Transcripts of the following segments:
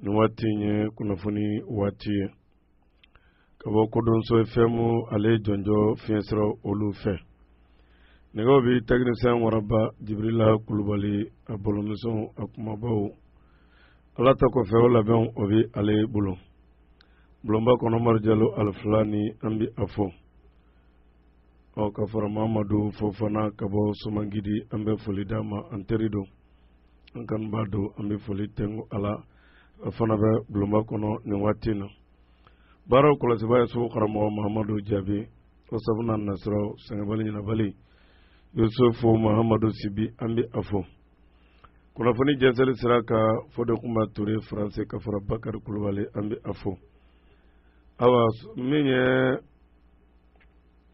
nin waati in ye kunnafoni waati ye ka bɔ kodɔnso ɛfɛmu ale jɔnjɔ fiɲɛ sira olu fɛ nɛgɛw bɛ tɛkinisɛn waraba jibirila kulubali a bolomisɛn a kumabaw ala ta kɔfɛ o labɛnw o bɛ ale bolo bulonba kɔnɔ mari jalo alifulani an bɛ a fɔ ɔ ka fara mamadu fofana ka bɔ somangidi an bɛ foli d'a ma an teri don An kanubaa don an bɛ foli tɛ ala a fana bɛ bulonba kɔnɔ nin waati in na baaraw kɔlɔsibaa ye sogo karamɔgɔ mahamadu jaabi o sabu na nasiru sɛgɛnbali ɲinabali yusufu mahamadu sibi an bɛ a fɔ kunnafoni jɛnsɛnli sira kan fode kuma toure faransi ka fara bakari kulubali an bɛ a fɔ ayiwa min ye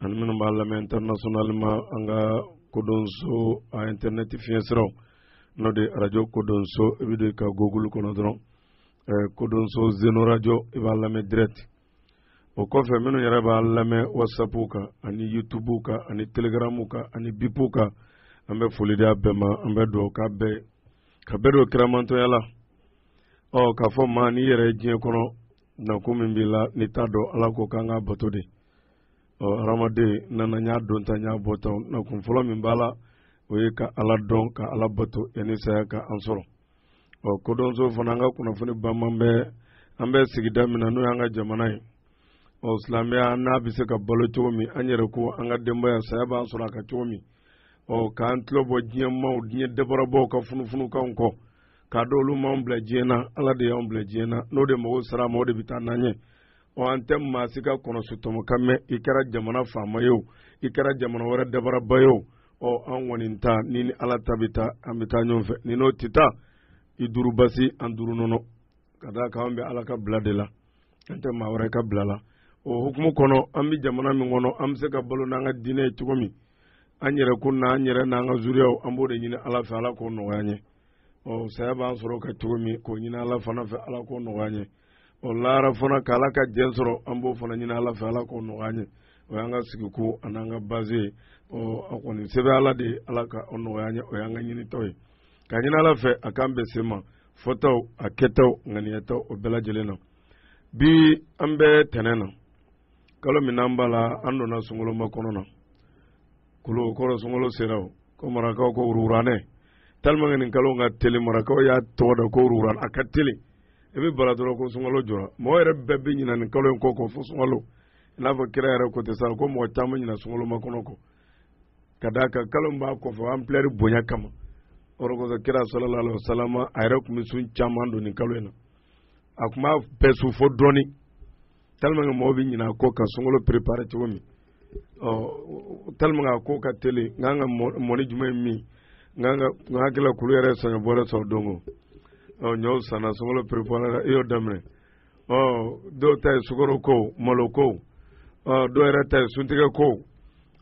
ani minnu b'a lamɛn internationalement an ka kodɔnso a internet fiɲɛ siraw n'o de radio kodɔnso i bɛ don ka google kɔnɔ dɔrɔn eh, kodɔnso zeno radio i b'a lamɛn direct o kɔfɛ minnu yɛrɛ b'a lamɛn whatsapp kan ani youtube kan ani telegram kan ani bipu kan an bɛ foli di a bɛɛ ma an bɛ dugawu k'a bɛɛ ka bɛɛ don kiramantɔya la ɔ k'a fɔ maa n'i yɛrɛ ye diɲɛ kɔnɔ Na kun min b'i la n'i t'a dɔn ala ko k'an ka bato de ɔ hadamaden nana y'a dɔn ta y'a bɔ ta na kun fɔlɔ min b'a la o ye ka ala dɔn ka ala bato yanni saya ka an sɔrɔ ɔ kodɔnso fana an ka kunnafoni banman bɛ an bɛ sigida min na n'o y'an ka jamana ye ɔ silamɛya n'a bɛ se ka balo cogo min an yɛrɛ ko an ka denbaya saya b'an sɔrɔ a ka cogo min ɔ k'an tulo bɔ diɲɛ maaw diɲɛ dabarabɔw ka funufunukanw kɔ k'a dɔn olu m'anw bila diɲɛ na ala de y'anw bila diɲɛ na n'o de mago sara ma o de bɛ taa n'an ye ɔ an tɛ maa si ka kɔnɔsotɔmɔ kan mɛn i kɛra jamana faama ye o i kɛra jamana wɛrɛ dabaraba ye o ɔ an kɔni ta ni ni ala ta bɛ taa an bɛ taa ɲɔgɔn fɛ ni n'o tɛ taa i duuru basi an duuru nɔnɔ ka d'a kan an bɛ ala ka bila de la an tɛ maa wɛrɛ ka bila la o hukumu kɔnɔ an bɛ jamana min kɔnɔ an bɛ se ka balo n'an ka diinɛ ye cogo min an yɛrɛ ko n'an yɛrɛ n'an ka zuriyaw an b'o de ɲini ala fɛ ala k'o nɔgɔya an ye ɔ saya b'an sɔrɔ ka cogo min k'o ɲini ala fana fɛ ala k'o nɔgɔya an ye ɔ lahara fana ka ala ka jɛn sɔrɔ an b'o fana ɲini ala fɛ ala k'o nɔgɔya an ye o y'an ka sigikun an'an ka baze ye ɔ a kɔni se bɛ ala de ye ala ka o nɔgɔya an ye o y'an ka ɲinita ye ka ɲini ala fɛ a k'an bɛn se ma fɔtaw a kɛtaw ŋaniyataw o bɛɛ lajɛlen na bi an bɛ tɛnɛn na kalo min n'an b'a la an donna sunkalo makɔnɔ na kolo kɔrɔ sunkalo sera o ko marakaw ko wuruwuranɛ tellement que nin kalo ka teli marakaw y'a tɔgɔ da ko wuruwuran a ka teli i bɛ bara dɔrɔn ko sunkalo jɔra mɔgɔ yɛrɛ bɛɛ bɛ ɲina nin kalo in kɔ kɔ fo sunkalo i n'a fɔ kira yɛrɛ ko ten sa ko mɔgɔ caman ɲina sunkalomakɔnɔ kɔ ka d'a kan kalo min b'a kɔfɛ ampleur bonya kama o de kosɔn kira sallallahu alaihi wa sallam a yɛrɛ tun bɛ sun caman don nin kalo in na a tun b'a bɛɛ sun fo dɔɔni tellement que mɔgɔw bɛ ɲina a kɔ ka sunkalo préparer cogo min ɔ tellement a ko ka teli n kan ka mɔni jumɛn ye min n kan ka n hakili la kunun yɛrɛ ye saɲɔ bɔrɛ sɔrɔ don o ɔ ɲɔw sanna sunkalo préparer i y'o daminɛ ɔ dɔw ta ye sukaro ko malo ko ɔ dɔw yɛrɛ ta ye suntigɛ ko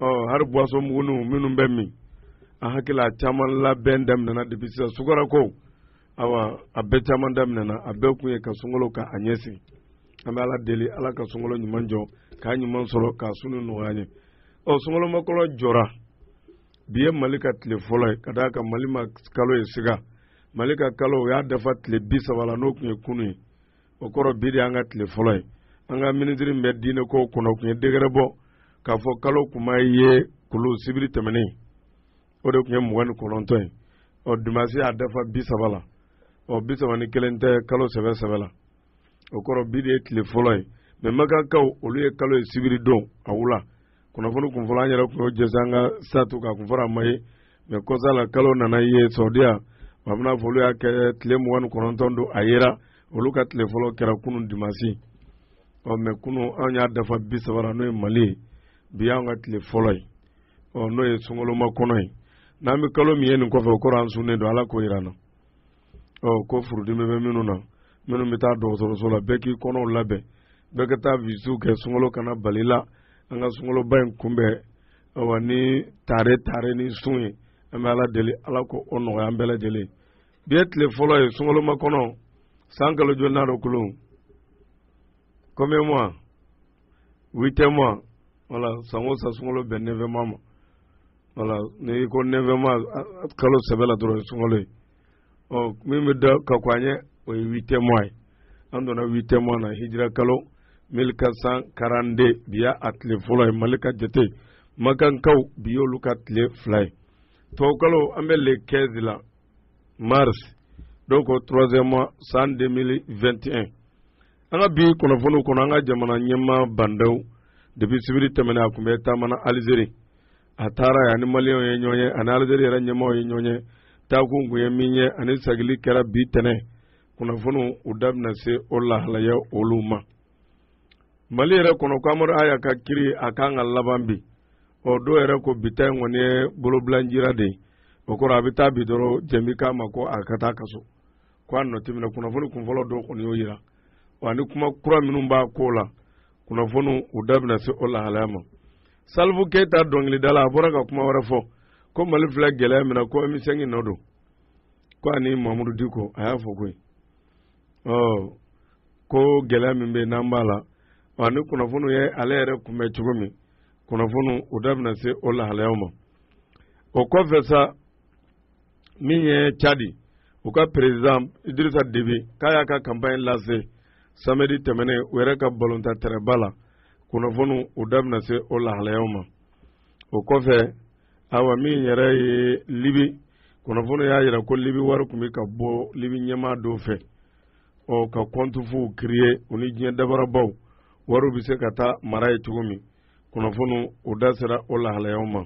ɔ hali boisson muguniw minnu bɛ min a hakili la caman labɛn daminɛna depuis sisan sukaro ko awa a bɛɛ caman daminɛna a bɛɛ kun ye ka sunkalo ka a ɲɛsigi an bɛ ala deli ala ka sunkalo ɲuman jɔ k'a ɲuman sɔrɔ k'a sun nɔgɔya an ye ɔ sunkalomakɔnɔ jɔra bi ye mali ka tile fɔlɔ ye ka d'a kan mali ma kalo ye siga mali ka kalo o y'a dafa tile bi saba la n'o tun ye kunu ye o kɔrɔ bi de y'an ka tile fɔlɔ ye an ka minisiri min bɛ diinɛ kow kunna o tun ye décret bɔ k'a fɔ kalo kun ma ye kunu sibiri tɛmɛnen o de tun ye mugan ni kɔnɔntɔn ye ɔ dimasi y'a dafa bi saba la ɔ bi saba ni kelen tɛ kalo sɛbɛ sɛbɛ la o kɔrɔ bi de ye tile fɔlɔ ye mais makankaw olu ye kalo ye sibiri don a wula kunnafoni kun fɔlɔ an yɛrɛ tun y'o jɛnsɛn an ka statut kan kun fɔra a ma ye mais kɔsa la kalo nana ye saudiya a bɛna fɔ olu y'a kɛ tile mugan ni kɔnɔntɔn don a yera olu ka tile fɔlɔ kɛra kunun dimasi ɔ mais kunun an y'a dafa bi saba la n'o ye mali ye bi y'an ka tile fɔlɔ ye ɔ n'o ye sunkalomakɔnɔ ye n'an bɛ kalo min ye nin kɔfɛ o kɔrɔ an sunnen don ala k'o yira an na ko furudimi bɛ minnu na minnu bɛ taa dɔgɔtɔrɔso la bɛɛ k'i kɔnɔw labɛn bɛɛ ka taa visites kɛ sunkalo kana bala i la an ka sunkaloba in kunbɛn awa ni tare tare ni sun ye an bɛ ala deli ala k'o nɔgɔya an bɛɛ lajɛlen bi ye tile fɔlɔ ye sunkalomakɔnɔ san kalo jolinan don kalo combien mois huit mois voilà san o san sunkalo bɛn neuf mois ma Voilà n'i ko neuf mois kalo sɛbɛ la dɔrɔn sunkalo ye. Ɔ min bɛ da ka kɔn a ɲɛ o ye huitième mois ye. An donna huitième mois na hijira kalo 1442 bi y'a tile fɔlɔ ye Mali ka jate makankaw bi y'olu ka tile fila ye. Tubabukalo an bɛ le 15 la mars donc troisième mois san 2021. An ka bi kunnafoniw kɔnɔ, an ka jamana ɲɛmaa Ba Ndaw depuis sibiri tɛmɛnen a kun bɛ taama na Alizeri, a taara yen, a ni maliyɛnw ye ɲɔgɔn ye, a ni Alizeri yɛrɛ ɲɛmaaw ye ɲɔgɔn ye, taakun kun ye min ye, ani sagili kɛra bi tɛnɛn. Kunnafoniw u da bɛna se o lahalayaw olu ma. Mali yɛrɛ kɔnɔ, ko Amadu Aya ka kiri a ka kan ka laban bi. Ɔ dɔw yɛrɛ ko bi ta in kɔni ye bolobilanjira de ye. O kɔrɔ a bɛ taa bi dɔrɔn jɛn bɛ k'a ma ko a ka taa a ka so. k'a nɔ tɛ minɛ kunnafoni kunfɔlɔ dɔ kɔni y'o jira ani kuma kura minnu b'a ko la kunnafoni u da bɛna se o lahalaya ma salifu keyita dɔnkilidala a bɔra ka kuma wɛrɛ fɔ ko mali filɛ gɛlɛya min na ko ɛmu sɛnki nɔ don ko ani mamudu diko a y'a fɔ koyi ɔ ko gɛlɛya min bɛ yen n'an b'a la ani kunnafoniw ye ale yɛrɛ kunbɛn cogo min kunnafoniw u da bɛna se o lahalayaw ma o kɔfɛ sa min ye cadi u ka perezidan idirisa debi k'a y'a ka kanpaɲi lase samedi tɛmɛnen u yɛrɛ ka balontan tɛrɛba la kunnafoniw u da bɛna se o lahalayaw ma o kɔfɛ awa min yɛrɛ ye libi kunnafoni y'a jira ko libi wari kun bɛ ka bɔ libi ɲɛmaa dɔw fɛ ɔ ka kɔnti fuw kireye u ni diɲɛ dabarabaw wariw bɛ se ka taa mara yen cogo min kunnafoni u da sera o lahalayaw ma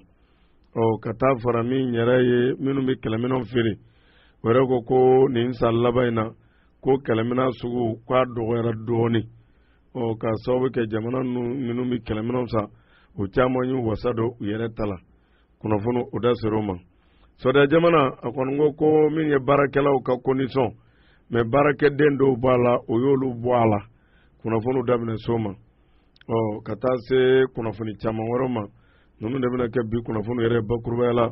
ɔ ka taa fara min yɛrɛ ye minnu bɛ kɛlɛminɛnw feere o yɛrɛ ko ko nin san laban in na ko kɛlɛminɛn sugu k'a dɔgɔyara dɔɔnin ɔ ka sababu kɛ jamana ninnu minnu bɛ kɛlɛminɛnw san u caman y'u wasa don u yɛrɛ ta la kunnafoni u da sera o ma sawudiya jamana a kɔni ko ko min ye baarakɛlaw ka kondisɔn mɛ baarakɛden dɔw b'a la o y'olu bɔ a la kunnafoniw da bɛna se o ma ɔ ka taa se kunnafoni caman wɛrɛw ma ninnu de bɛna kɛ bi kunnafoni yɛrɛ bakurubaya la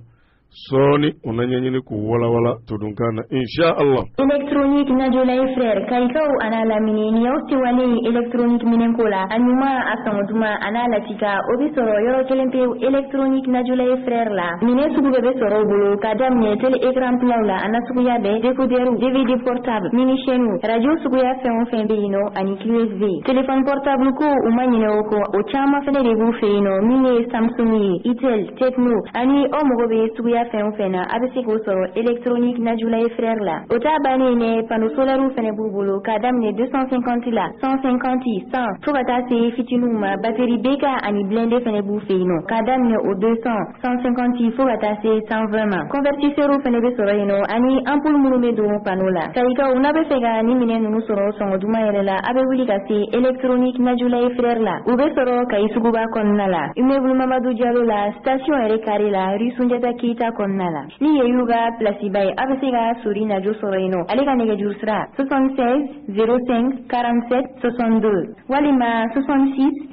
sɔɔni u na ɲɛɲini k'u walawala todunkan na insha Allah électronique najolay frère kayikaw an'a lamini nin y'aw ta wele ye électronique minɛnko la a ɲuman a sɔngɔ duman an'a latika o bɛ sɔrɔ yɔrɔ kelen pewu électronique najolay frère la minɛn sugu bɛɛ bɛ sɔrɔ u bolo ka daminɛ télé écran platw la an'a suguya bɛɛ décodeur dvd portable mini chaîne radio suguya fɛn o fɛn bɛ yen nɔ ani USB téléphone portable ko u ma ɲinɛ o kɔ o caman fɛnɛ de b'u fɛ yen nɔ min ye Samsung ye Itel Tecno ani aw mago bɛ suguya fɛn o fɛn na a bɛ se k'o sɔrɔ électronique Najulaye Frères la o t'a bannen dɛ panneau solaire fɛnɛ b'u bolo k'a daminɛ 250 la 150 100 fo ka taa se fitiniw ma batterie BK ani blindé fɛnɛ b'u fɛ yen nɔ k'a daminɛ o 200 150 fo ka taa se 120 ma convertisseur fɛnɛ bɛ sɔrɔ yen nɔ ani ampoule minnu bɛ don panneau la kayikaw n'a bɛ fɛ ka nin minɛn ninnu sɔrɔ sɔngɔ duman yɛrɛ la a bɛ wuli ka se électronique najola et frères la u bɛ sɔrɔ kayi suguba kɔnɔna la immeuble mamadu jalo la station yɛrɛ kare la rue sunjata keyita kɔnɔna la ni ye y'u ka pilasiba ye a bɛ se ka sori najo sɔrɔ yen nɔ ale ka nɛgɛjuru sira 76 05 47 62 walima 66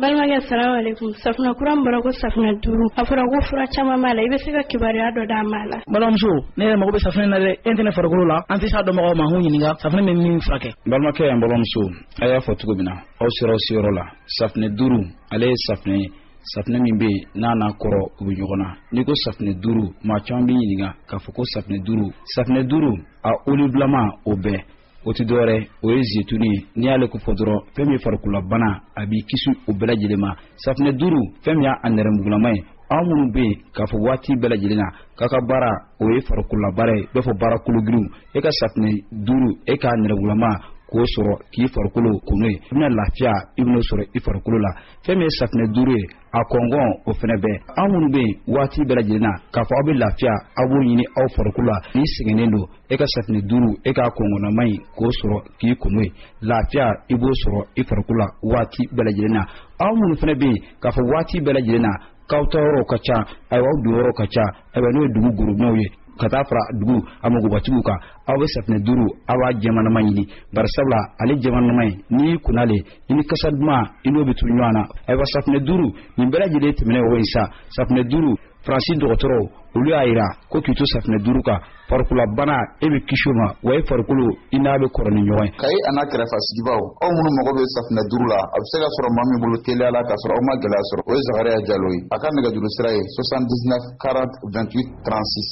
Balimakɛ asalamu alekum safunɛ kura bɔra ko safunɛ duuru a fɔra ko fura caman b'a la i bɛ se ka kibaruya dɔ d'an m'a la balimamuso ne yɛrɛ mako bɛ safunɛ na dɛ e tɛ ne farikolo la an tɛ s'a dɔnbagaw ma k'u ɲininka safunɛ bɛ min furakɛ balimakɛ yan balimamuso a y'a fɔ cogo min na aw sera aw seyɔrɔ la safunɛ duuru ale ye safunɛ ye safunɛ min bɛ yen n'a n'a kɔrɔ u bɛ ɲɔgɔn na n'i ko safunɛ duuru maa caman bɛ ɲininka k'a fɔ ko safunɛ duuru safunɛ duuru a olibulama o bɛɛ o tɛ dɔwɛrɛ o ye zetuni ye n'i y'ale ko fɔ dɔrɔn fɛn min ye farikololabana a b'i kisi o bɛɛ lajɛlen ma safinɛ duuru fɛn min y'a nɛrɛmugulama ye aw minnu bɛ yen k'a fɔ waati bɛɛ lajɛlen na k'a ka baara o ye farikololabaara ye i b'a fɔ baara kologirinw e ka safinɛ duuru e k'a nɛrɛmugulama k'o sɔrɔ k'i farikolo ko n'o ye i bɛna lafiya i bɛn'o sɔrɔ i farikolo la fɛn min ye safinɛ duuru ye a kɔngɔn o fɛnɛ bɛ aw minnu bɛ yen waati bɛɛ lajɛlen na k'a fɔ aw bɛ lafiya aw b'o ɲini aw farikolo la n'i sɛgɛnnen don e ka safinɛ duuru e k'a kɔngɔnnama in k'o sɔrɔ k'i ko n'o ye lafiya i b'o sɔrɔ i farikolo la waati bɛɛ lajɛlen na aw minnu fɛnɛ bɛ yen k'a fɔ waati bɛɛ lajɛlen na k'aw taa yɔrɔw ka ca ayiwa aw don yɔrɔw ka ca ayiwa n'o ye dugu gorobinɛw ye ka taa fara dugu a magobatigiw kan aw bɛ safinɛ duuru aw b'a jɛmanama ɲini bari sabula ale jɛmanama ye n'i y'i ko n'ale i ni kasa duman i n'o bɛ to ɲɔgɔn na ayiwa safinɛ duuru nin bɛɛ lajɛlen tɛmɛnen o ye sa safinɛ duuru faransi dɔgɔtɔrɔw olu y'a jira ko k'i to safinɛ duuru kan farikololabana e bɛ kisi o ma wa e farikolo i n'a bɛ kɔrɔ ni ɲɔgɔn ye. kayi a n'a kɛrɛfɛ sigibaw aw minnu mago bɛ safinɛ duuru la a bɛ se ka sɔrɔ maa min bolo teliya la k'a sɔrɔ aw ma gɛlɛya sɔrɔ o ye zakariya jalo ye a ka nɛgɛjuru sira ye 79 40 28 36.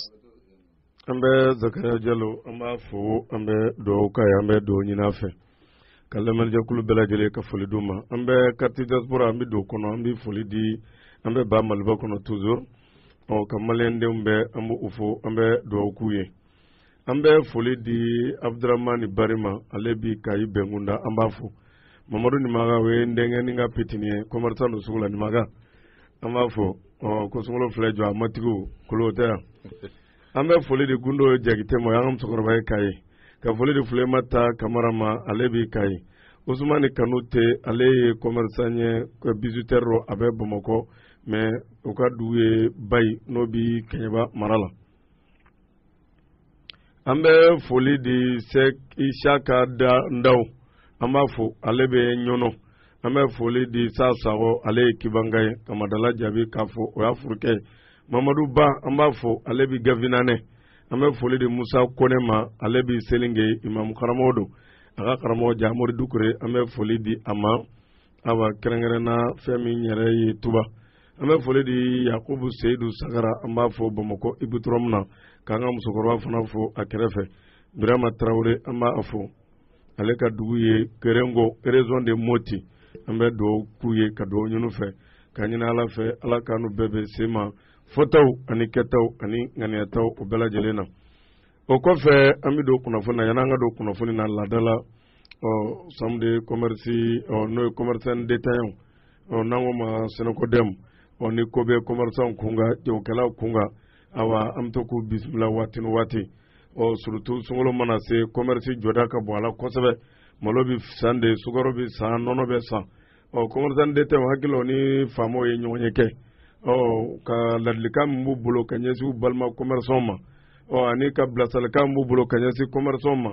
an bɛ zakariya jalo an b'a fo an bɛ dugawu k'a ye an bɛ dugawu ɲini a fɛ ka lamɛnjɛkulu bɛɛ lajɛlen ka foli d'u ma an bɛ kariti diaspora an bɛ don o kɔnɔ an bɛ foli di an bɛ ba maliba kɔnɔ toujours ɔ ka maliyɛndenw bɛɛ an bɛ u fo an bɛ dugawu k'u ye an bɛ foli di abudramani bari ma ale bi kayi bɛnkunda an b'a fo mamadu nimaga o ye n denkɛ ni ka pitini ye kɔmɛrisan don sugu la nimaga an b'a fo ɔ ko sunkalo filɛ jɔ a matigiw kolo tɛ yan an bɛ foli di gundo jakite ma an ka musokɔrɔba ye kayi ka foli di fulemata kamara ma ale bi kayi usumani kanute ale ye kɔmɛrisan ye bijouterie rɔ a bɛ bamakɔ mɛ u ka dugu ye bayi n'o bɛ kɛɲɛba mara la an bɛ foli di isaka ndaw an b'a fo ale bɛ ɲɔnɔ an bɛ foli di sa sago ale ye kibanka ye ka madala jaabi k'a fo o y'a furukɛ ye mamadu ba an b'a fo ale bɛ gafinanɛ an bɛ foli di musa kone ma ale bɛ selinge imamu karamɔgɔ don a ka karamɔgɔ jamori dukure an bɛ foli di a ma awa kɛrɛnkɛrɛnna fɛn min yɛrɛ ye tuba an bɛ foli di yakubu seyidu sagara an b'a fo bamakɔ ipodɔrɔmu na k'an ka musokɔrɔba fana fo a kɛrɛfɛ birama tarawele an b'a fo ale ka dugu ye kerenko région de moti an bɛ dugawu k'u ye ka dugawu ɲini u fɛ k'a ɲini ala fɛ ala k'an n'u bɛɛ bɛ sema fɔtaw ani kɛtaw ani ŋaniyataw o bɛɛ lajɛlen na o kɔfɛ an bɛ don kunnafoni na yanni an ka don kunnafoni na laadala ɔ chambre de commerce ɔ n'o ye commerçant détaillant ɔ n'an k'o ma SYNACODEM ɔ ni ko bɛ commerçants kunkan jagokɛlaw kunkan ayiwa an bɛ to k'u bisimila waati ni waati ɔ surtout sunkalo mana se commerce jɔda ka bon a la kosɛbɛ malo bɛ san de sukaro bɛ san nɔnɔ bɛ san ɔ commerçant détaillant n hakili la u ni faamaw ye ɲɔgɔnye kɛ ɔ ka ladilikan min b'u bolo ka ɲɛsin u balima commerçants ma ɔ ani ka bilasiralikan min b'u bolo ka ɲɛsin commerçants ma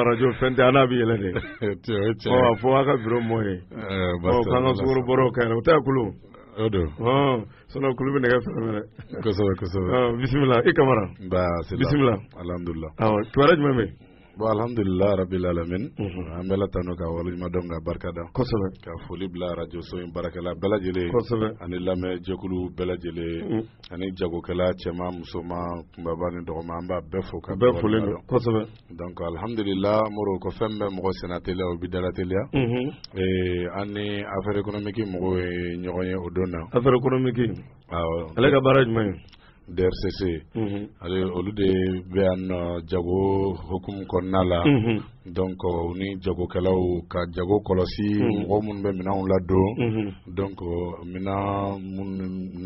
arajo fɛn tɛ n'a bɛ yɛlɛ de a fɔ a ka bureau mɔgɔ ye k'an ka sukaro bɔra u ka yɛlɛ o tɛ a kulu o don sinon kulu bɛ nɛgɛ fɛn minɛ kosɛbɛ bisimila i kamara bisimila kibaru jumɛn bɛ bon alhamdulila rabil alamin an b'ala tanu k'a waleɲumandɔn k'a barika da kosɛbɛ ka foli bila arajoso in baarakɛla bɛɛ lajɛlen kosɛbɛ ani lamɛn jɛkulu bɛɛ lajɛlen ani jagokɛla cɛman musoman kunbaba ni dɔgɔman an b'a bɛɛ fo ka bɛɛ folen don kosɛbɛ donc alhamdulillah moro ko fɛn bɛ mɔgɔ sen nateliya o b'i da lateliya mhm. eh, an ni affaire économique mɔgɔw ye ɲɔgɔn ye o don na affaire économique awa ale ka baara jumɛn ye DRCC mhm. ale olu de bɛ yan nɔ jago hukumu kɔnɔna la mhm. donc u ni jagokɛlaw ka jago kɔlɔsi mɔgɔ minnu bɛ minɛnw ladon donc minɛn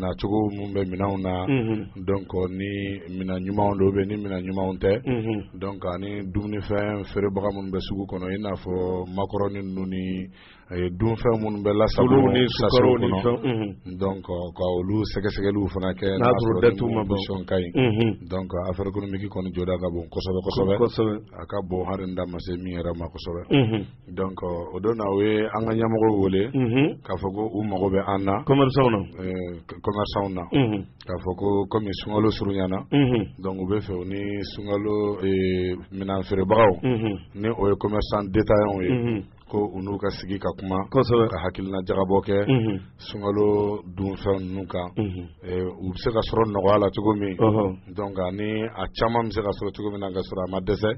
nacogo minnu bɛ minɛnw na donc ni minɛn ɲumanw don bɛ ni minɛn ɲumanw tɛ donc ani dumunifɛn feerebaga minnu bɛ sugu kɔnɔ i n'a fɔ makɔrɔni ninnu ani dunfɛn minnu bɛ lasago ni sa donc ka olu sɛgɛsɛgɛliw fana kɛ n'a dati ma bɔ o ka ɲi donc affaire économique kɔni jɔda ka bon kosɛbɛsɛbɛ a ka bon hali n da ma se min yɛrɛ ma kosɛbɛ donc o don na u ye an ka ɲɛmɔgɔ wele k'a fɔ ko u mago bɛ an na commerçants na commerçants na k'a fɔ ko kɔmi sunkalo surunyana donc u b'a fɛ u ni sunkalo minɛn feerebagaw ni o ye commerçant détaillant ye ko u n'u ka sigi ka kuma kosɛbɛ ka hakilina jagabɔ kɛ sunkalo dunfɛn ninnu kan u bɛ se ka sɔrɔ nɔgɔya la cogo min donc ani a caman bɛ se ka sɔrɔ cogo min na ka sɔrɔ a ma dɛsɛ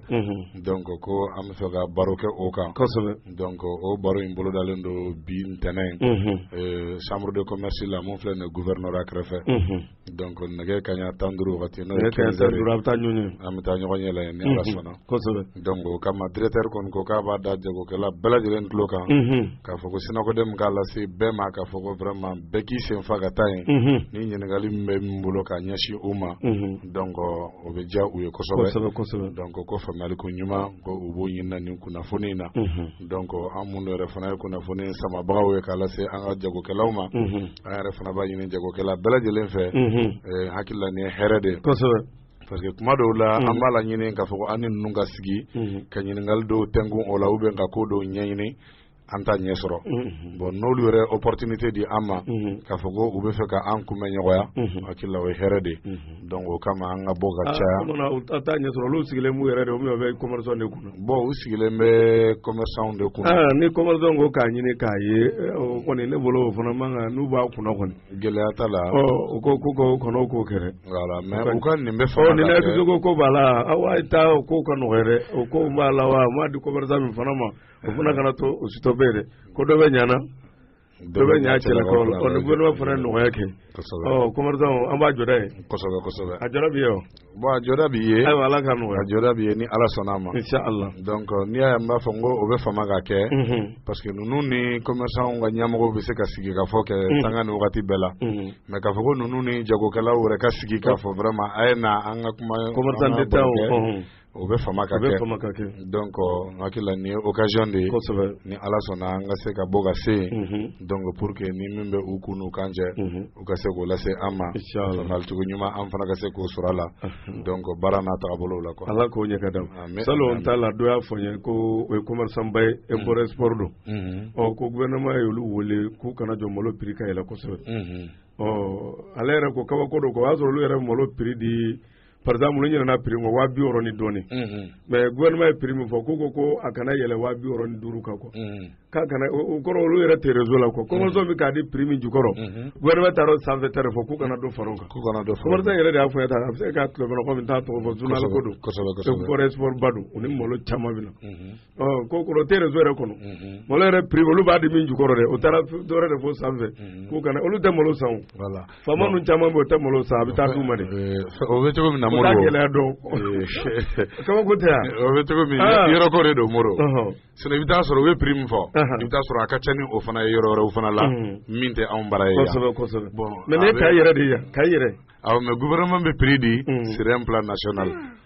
donc ko an bɛ fɛ ka baro kɛ o kan kosɛbɛ donc o baro in bolodalen don bi ntɛnɛn in chambre de commerce la mun filɛ nin ye gouvernorat kɛrɛfɛ. Donc nɛgɛ kaɲɛ tan ni duuru wagati n'o ye quinze heures an bɛ taa ɲɔgɔn yɛlɛ yen ni ala sɔnna donc o kama directeur kɔni ko k'a b'a da jagokɛla bɛɛ lajɛlen tulo kan k'a fɔ ko SYNACODEM k'a lase bɛɛ ma k'a fɔ ko vraiment bɛɛ k'i sen fa ka taa yen ni ɲininkali min bɛ min bolo k'a ɲɛsin u ma donc o bɛ diya u ye kosɛbɛ donc ko faamuyali ko ɲuman ko u b'o ɲini nin kunnafoni in na donc an minnu yɛrɛ fana ye kunnafoni samabagaw ye k'a lase an ka jagokɛlaw ma an yɛrɛ fana b'a ɲini jagokɛla bɛɛ lajɛlen fɛ hakili la nin ye hɛrɛ de parce que kuma dɔw la an b'a laɲini k'a fɔ ko an ni ninnu ka sigi ka ɲininkali dɔw tɛnkun o la ou bien ka ko dɔw ɲɛɲini an t'a ɲɛ sɔrɔ bon n'olu yɛrɛ opportunité di an ma k'a fɔ ko u bɛ fɛ ka an kumaɲɔgɔnya hakili la o ye hɛrɛ de Donc o kama an ka bɔ ka caya a t'a ɲɛ sɔrɔ olu sigilen b'u yɛrɛ de o bɛ commerçant de kunna bon u sigilen bɛ commerçant de kunna ni commerçant ko k'a ɲini k'a ye o kɔni ne bolo o fana man kan n'u b'a kunna kɔni gɛlɛya t'a la u ko ko k'o kɔnɔ k'o kɛra mais u ka nin bɛ fɔ ni ko b'a la aw y'a to o ko ka nɔgɔya dɛ o ko b'a la wa m'a di commerçant min fana ma o fana kana to o sitɔ bɛ dɛ ko dɔ bɛ ɲana dɔ bɛ ɲa cɛla kɔrɔ la ɔ ni gouvernement fana ye nɔgɔya kɛ kosɛbɛ ɔ commerçant an b'a jɔda ye kosɛbɛ kosɛbɛ a jɔda bi ye wa bon a jɔda bi ye ayiwa ala ka nɔgɔya a jɔda bi ye ni ala sɔnna a ma inchallah donc euh, n'i y'a ye n b'a fɔ n ko o bɛ fama ka kɛ mhm. parce que ninnu ni commerçant ka ɲɛmɔgɔw bɛ se ka sigi k'a fɔ kɛ mhm. sanga ni wagati bɛɛ la mhm. mais k'a fɔ ko ninnu ni jagokɛlaw yɛrɛ ka sigi k'a fɔ vraiment a ye na an ka kuma commerçant détaillant o bɛ fama ka kɛ donc n hakili la nin ye occasion de ye kosɛbɛ ni Ala sɔnna an ka se ka bɔ ka se yen mhm. donc pour que ni min bɛ u kun n'u kan cɛ mhm. u ka se k'o lase an ma faamuyalicogo ɲuman an fana ka se k'o sɔrɔ a la mhm. donc baara n'a tagabolow la quoi Ala k'o ɲɛ ka d'an ma salon n t'a la dɔ y'a fɔ n ye ko o ye commerçant ba ye import export don ɔ ko gouvernement ye olu wele k'u kana jɔ malo prix ka yɛlɛ kosɛbɛ ɔ ale yɛrɛ ko kabako don quoi o y'a sɔrɔ olu yɛrɛ malo prix di par exemple n ɲinɛna prix min kɔ waa bi wɔɔrɔ ni dɔɔni mais gouvernement ye prix min fɔ k'u ko ko a kana yɛlɛ waa bi wɔɔrɔ ni duuru kan quoi k'a kana o kɔrɔ olu yɛrɛ tɛ réseau la quoi commerçant bɛ k'a di prix min jukɔrɔ gouvernement taara o sanfɛ ta de fɔ k'u kana dɔ fara o kan k'u kana dɔ fara commerçant yɛrɛ de y'a fɔ n ye tan a bɛ se ka tulomɛnɛ kɔmi n t'a tɔgɔ fɔ journal ko don kosɛbɛ kosɛbɛ import export ba don u ni malo caman bɛ na Ko kɔrɔ tɛ réseau yɛrɛ kɔnɔ, unhun, malo yɛrɛ prix olu b'a di min jukɔrɔ dɛ, o taara dɔ wɛrɛ de fɔ sanfɛ, unhun, k'u kana olu tɛ malo san o, voilà, faama ninnu caman bɛ yen u tɛ malo san a bɛ taa d'u ma de, ɛɛ, o bɛ cogo min na Modibo, o t'a gɛlɛya dɔn, kabako tɛ wa, o bɛ cogo min ah. yɔrɔ ko de don Modibo, ɔhɔ, sinon i bɛ taa sɔrɔ u ye prix min fɔ, ɔhɔ, i bɛ taa sɔrɔ a ka ca ni o fana ye yɔrɔ wɛrɛw fana la, unhun, min tɛ anw bara ye yan, kosɛbɛ kosɛbɛ, bon, mais nin ye Kayi yɛrɛ de ye yan, Kayi yɛrɛ, awɔ mais gouvernement bɛ prix di, unhun, sur un plan national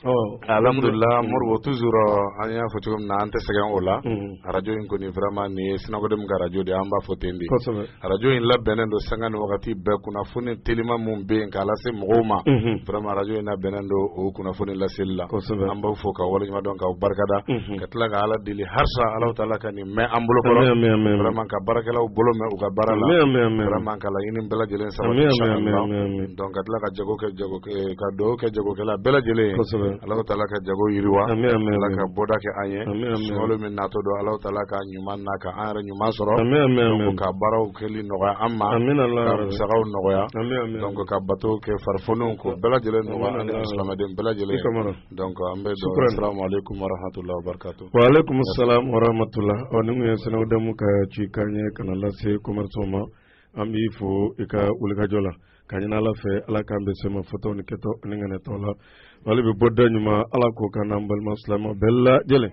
Ɔ alhamdulillah Modibo toujours an y'a fɔ cogo min na an tɛ sɛgɛn o la radio in kɔni vraiment nin ye SYNACODEM ka radio de an b'a fɔ ten de radio in labɛnnen don sanga ni wagati bɛɛ kunnafoni telima minnu bɛ yen k'a lase mɔgɔw ma vraiment radio in labɛnnen don o kunnafoni laseli la an b'aw fo k'aw waleɲumandɔn k'aw barikada ka tila ka ala deli harisa alahu taala ka mɛn an bolo kɔrɔ vraiment ka baarakɛlaw bolo mɛn u ka baara la vraiment ka laɲini bɛɛ lajɛlen sabati donc ka tila ka jago kɛ ka dugawu kɛ jagokɛla bɛɛ lajɛlen ye alahu taala ka jago yiriwa ala ka bɔda kɛ an ye sunkalo min natɔ don alahu taala k'a ɲuman na ka an yɛrɛ ɲuman sɔrɔ ka baaraw kɛli nɔgɔya an ma ka musakaw nɔgɔya donc ka bato kɛ farifoniw ko bɛɛ lajɛlen nɔgɔya an silamɛden bɛɛ lajɛlen donc an bɛ dɔw assalamu alaikum warahmatula wabarakatu wa alaikum salam warahmatula ɔ ni min ye SYNACODEM ka ci kan ye ka n'a lase commerçant ma an b'i fo i ka wulikajɔ la ka ɲini ala fɛ ala k'an bɛ sema fɔtɔw ni kɛtɔ ni ŋaniyatɔ la wali bɛ bɔ da ɲuman ala k'o k'an n'an balima silama bɛɛ lajɛlen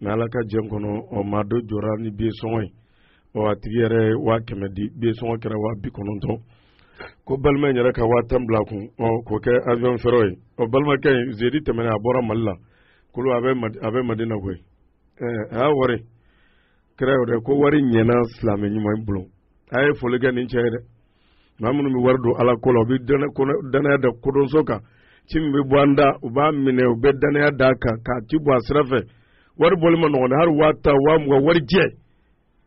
Mais Ala ka jɛn kɔnɔ, ɔ maa dɔ jɔra ni billet sɔngɔ ye, ɔ a tigi yɛrɛ ye 100.000 di, billet sɔngɔ kɛra 90.000 ko balima in yɛrɛ ka 10.000 bila a kun, ɔ k'o kɛ avion frais ye, ɔ balimakɛ in jeudi tɛmɛnen a bɔra Mali la, kulu a bɛ Madina koyi, ɛɛ a y'a wari, kira y'o de ko wari ɲɛna silamɛ ɲuman bolo, a ye foli kɛ nin cɛ ye dɛ! maa minnu bɛ wari don ala ko la u bɛ dannaya da kodɔnso kan ci min bɛ bɔ an da u b'a minɛ u bɛ dannaya da kan k'a ci bɔ a sira fɛ wari bɔli ma nɔgɔn hali waa tan waa mugan wari jɛ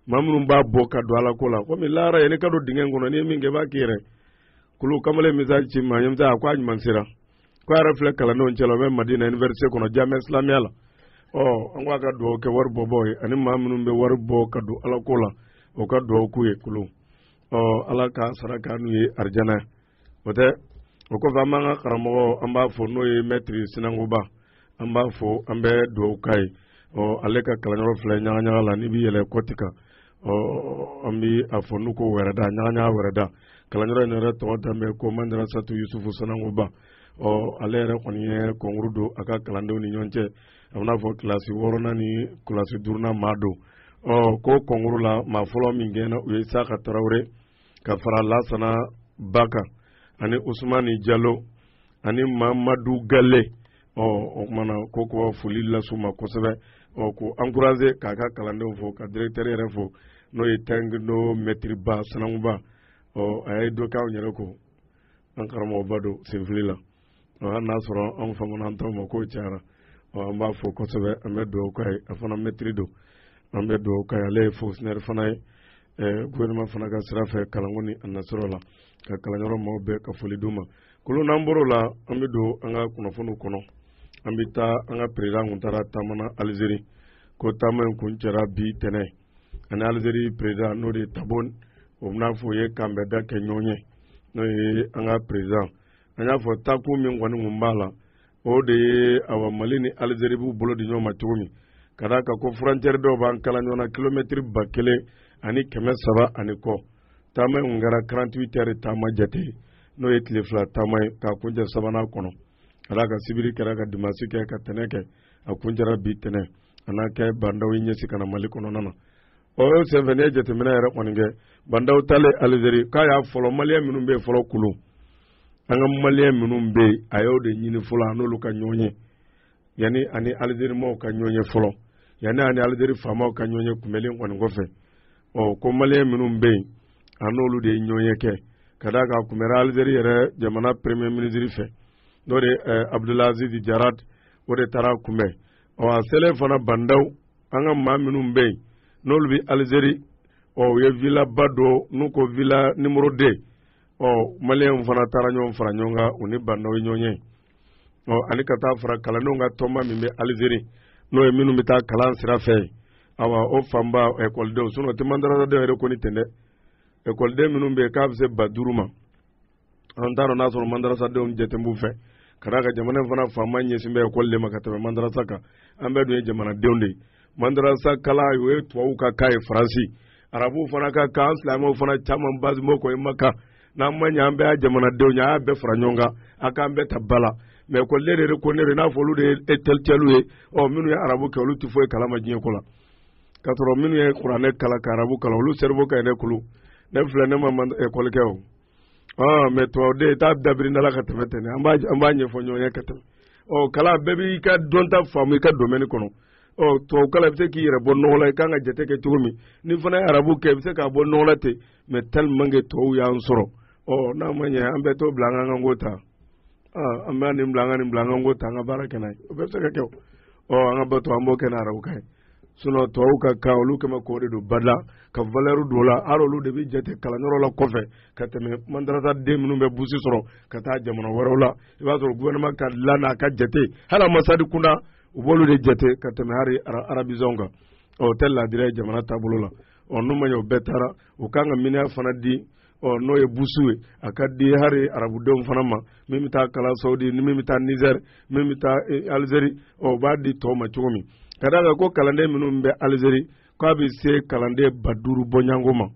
maa minnu b'a bɔ ka don ala ko la komi lahara yɛrɛ ka don dingɛ kɔnɔ n'i ye min kɛ i b'a k'i yɛrɛ kulu kamalen message ci maa ɲɛmisa a ko a ɲuman sera ko a yɛrɛ filɛ kalandenw cɛla o bɛ Madina université kɔnɔ Jamia Islamiya la ɔ an ko a ka dugawu kɛ wari bɔbaa ye ani maa minnu bɛ wari bɔ ka don ala ko la o ka dugawu k'u ye kulu ɔ ala k'a sara k'an n'u ye arijana o tɛ o kɔfɛ an b'an ka karamɔgɔ an b'a fo n'o ye maître sinankuba an b'a fo an bɛ dugawu k'a ye ɔ ale ka kalanyɔrɔ filɛ ɲagaɲaga la n'i bɛ yɛlɛ côte kan ɔ an bɛ a fɔ n'u ko wɛrɛda ɲagaɲaga wɛrɛda kalanyɔrɔ in yɛrɛ tɔgɔ dalen bɛ ko madarasatu yusufu sinankuba ɔ ale yɛrɛ kɔni ye concours don a ka kalandenw ni ɲɔgɔn cɛ a bɛn'a fɔ kilasi wɔɔrɔnan ni kilasi duurunan maa don ɔ ko kɔnkuruu la maa fɔlɔ min kɛna u ye isaka tarawele ka fara lasana ba kan ani usumani jalo ani mamadu gale ɔ o kumana ko ko foli las'u ma kosɛbɛ ɔ ko ankuraze k'a ka kalandenw fo ka diregitɛri yɛrɛ fo n'o ye tɛnkindo mɛtiriba sananguba ɔ a ye dɔ k'anw yɛrɛ ko an karamɔgɔba don senfili la n'a sɔrɔ anw famana an taw ma k'o cayara an b'a fo kosɛbɛ an bɛ dugawu k'a ye a fana mɛtiri don an bɛ dugawu k'a ye ale ye fɔnkisɔnɛri fana ye gofɛrɛnaman fana ka sira fɛ kalanko ni a nasɔrɔ la ka kalanyɔrɔ maaw bɛɛ ka foli d'u ma kolon n'an bɔr'o la an bɛ don an ka kunnafoniw kɔnɔ an bɛ taa an ka peresidan kun taara taama alizeri ko taama in kuncɛra bi tɛnɛn a ni alizeri peresidan n'o de ye tebun o bɛn'a fɔ o ye k'a ni bandaw ka ɲɔgɔn ye n'o ye an ka peresidan an y'a fɔ taa kun min kɔni kun b'a la o de ye awa mali ni alizeri b'u bolo di ɲɔgɔn ma cogo min ka d'a kan ko furɔncɛri dɔw b'an kala ɲɔgɔn na kilomɛtiri ba kelen ani kɛmɛ saba ani kɔ taama in kun kɛra 48 ɛri taama jate n'o ye tile fila taama ye k'a kuncɛ sabanan kɔnɔ ka d'a kan sibiri kɛra ka dimasi kɛ ka tɛnɛ kɛ a kuncɛra bi tɛnɛ a n'a kɛ bandaw y'i ɲɛsin ka na mali kɔnɔna na o senfɛ n'i ye jateminɛ yɛrɛ kɔni kɛ bandaw taalen alizeri k'a y'a fɔlɔ maliyɛn minnu bɛ yen fɔlɔ kulu an ka maliyɛn minnu bɛ yen a y'o de ɲini fɔlɔ a n'olu ka ɲɔgɔn ye yanni a ni alizeri maaw ka ɲɔgɔn ye fɔlɔ yanni a ni alizeri faamaw ka ɲɔgɔn ye kunbɛlen kɔni kɔfɛ ɔ ko maliyɛn minnu bɛ yen a n'olu de ye ɲɔgɔn ye kɛ ka d'a kan a kunbɛra alizeri yɛrɛ jamana premier minisiri fɛ n'o de ye eh, abudulaziz jarad o de taar'a kunbɛn ɔ a selen fana bandaw an ka maa minnu bɛ yen n'olu bɛ alizeri ɔ u ye vilaba dɔ n'u ko vila nimoro de ɔ maliyɛnw fana taara ɲɔgɔn fara ɲɔgɔn kan u ni bandaw ye ɲɔgɔn ye ɔ ani ka taa fara kalandenw ka tɔnba min bɛ alizeri n'o ye minnu bɛ taa kalan sira fɛ awa o fanba ekɔlidenw sinɔn o tɛ mandarasadenw yɛrɛ kɔni tɛ dɛ ekɔliden minnu bɛ yen k'a bɛ se ba duuru ma an t'a dɔn n'a sɔrɔ mandarasadenw jate b'u fɛ ka d'a kan jamana fana faama ɲɛsin bɛ ekɔli de ma ka tɛmɛ mandarasa kan an bɛɛ dun ye jamanadenw de ye mandarasa kala o ye tubabuw ka kan ye faransi arabuw fana ka kan an silamɛw fana caman basimɔ kɔ i ma kan n'an ma ɲɛ an bɛɛ ye jamanadenw ye a y'a bɛɛ fara ɲɔgɔn kan a k'an bɛɛ ta ba la mɛ ko ne de ko ne de n'a fɔ olu de ye ɛntɛlɛkituyɛli ye ɔ minnu ye arabu kɛ olu tɛ foyi kalama diɲɛ ko la k'a sɔrɔ minnu ye kuranɛ kala ka arabu kala olu sɛriwo ka ɲi ne kulu ne filɛ ne ma ekɔli kɛ o mais tubabuden t'a dabiri da ka tɛmɛ tɛmɛ an b'a ɲɛfɔ ɲɔgɔn ye ka tɛmɛ ɔ kalan bɛɛ b'i ka dɔnta faamu i ka domɛni kɔnɔ ɔ tubabu kalan i bɛ se k'i yɛrɛ bɔ nɔgɔ la i kan ka jate kɛ cogo min n'i fana ye arabu kɛ i bɛ se k'a bɔ nɔgɔ la ten mais tellement que tubabu y'an sɔrɔ ɔ n'a ma ɲɛ an bɛɛ t'o bila an ka ko ta an bɛ nin bila an ka nin bila an ka ko ta an ka baara kɛ n'a ye o bɛɛ bɛ se ka kɛ o ɔ an ka bato an b'o kɛ n'arabukan ye sinon tubabu ka kan olu kɛmɛ k'o de don ba la ka valeur don o la hali olu de bɛ jate kalanyɔrɔ la kɔfɛ ka tɛmɛ mandarasa den minnu bɛ burusi sɔrɔ ka taa jamana wɛrɛw la i b'a sɔrɔ gouvernement ka la n'a ka jate hali ambassade kunda u b'olu de jate ka tɛmɛ hali arabisant kan ɔ o tɛ laadiriya ye jamana taabolo la ɔ n'u ma ɲɛ o bɛɛ taara u kan ka miniya fana di ɔ n'o ye burusi ye a k'a di hali arabudenw fana ma min bɛ taa kalan sawudi ni min bɛ taa nizɛri min bɛ taa eh, alizeri ɔ u b'a di tɔw ma cogo min ka d'a kan ko kalanden minnu bɛ alizeri k'a bɛ se kalanden ba duuru bɔɲɔgɔnko ma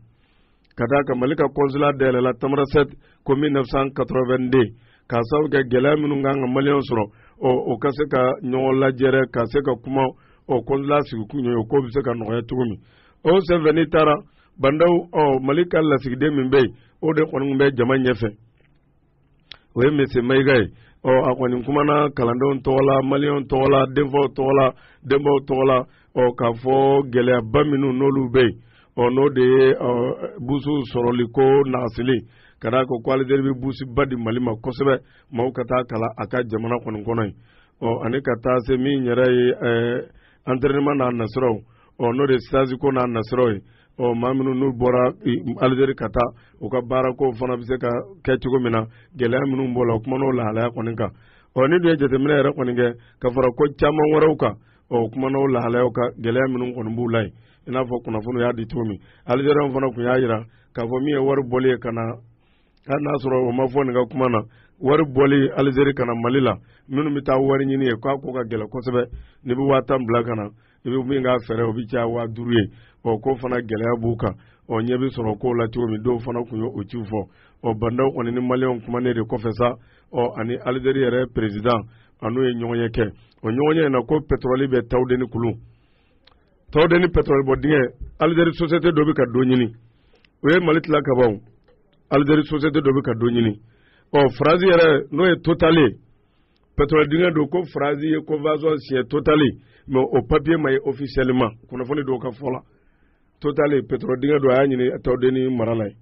ka d'a kan mali ka kɔnsula dayɛlɛla tamarasɛti ko 1982 k'a sababu kɛ gɛlɛya minnu kan ka maliyɛnw sɔrɔ ɔ o ka se ka ɲɔgɔn lajɛrɛ ka se ka kuma ɔ kɔnsula sigikun ye o ko bɛ se ka nɔgɔya cogo min o senfɛ n'i taara ba ndaw ɔ mali ka lasigiden min bɛ yen o de kɔni bɛ jama ɲɛfɛ o ye monsieur mayiga ye ɔ a kɔni kumana kalandenw tɔgɔ la maliyɛnw tɔgɔ la denfaw tɔgɔ la denbaw tɔgɔ la ɔ k'a fɔ gɛlɛyaba minnu n'olu bɛ yen ɔ n'o de ye ɔ burusi sɔrɔliko nagasili ka d'a kan ko alizeri bɛ burusiba di mali ma kosɛbɛ maaw ka taa kalan a ka jamana kɔni kɔnɔ yen ɔ ani ka taa se min yɛrɛ ye ɛɛ antɛrɛnɛman n'a nasiraw ɔ n'o de ye sitazi ko n'a nasiraw ye ɔ maa minnu n'u bɔra alizeri ka taa u ka baarako fana bɛ se ka kɛ cogo min na gɛlɛya minnu b'o la o kumana o lahalaya kɔni kan ɔ n'i dun ye jateminɛ yɛrɛ kɔni kɛ ka fara ko caman wɛrɛw kan ɔ o kumana o lahalayaw kan gɛlɛya minnu kɔni b'u la yen i n'a fɔ kunnafoniw y'a di cogo min alizeriyɛnw fana tun y'a jira k'a fɔ min ye wari bɔli ye ka na hali n'a sɔrɔ o ma fɔ nin ka kuma na wari bɔli alizeri ka na mali la minnu bɛ taa wari ɲini yen k'a ko ka gɛlɛn kosɛbɛ n'i bɛ waa tan bila ka na i bɛ min k'a frais o bɛ caya waa duuru ye o ko fana gɛlɛya b'u kan ɔ ɲɛ bɛ sɔrɔ kow la cogo min dɔw fana tun ye o ciw fɔ ɔ ba ndaw kɔni ni maliyɛnw kumanen de kɔfɛ sa ɔ ani alizeri yɛrɛ perezidan an'u ye ɲɔgɔnye kɛ o ɲɔgɔnye in na ko pɛtɔrɔli bɛ tawudeni kulu Tawudeni pétrole bɔ dingɛ Algérie société dɔ bɛ ka dɔ ɲini u ye Mali tila ka ban Algérie société dɔ bɛ ka dɔ ɲini ɔ France yɛrɛ n'o ye Total ye pétrole dingɛ dɔ ko France ye convention signé Total mais o papier ma ye officiellement kunnafoni dɔw ka fɔ la Total pétrole dingɛ dɔ a y'a ɲini Tawudeni mara la yen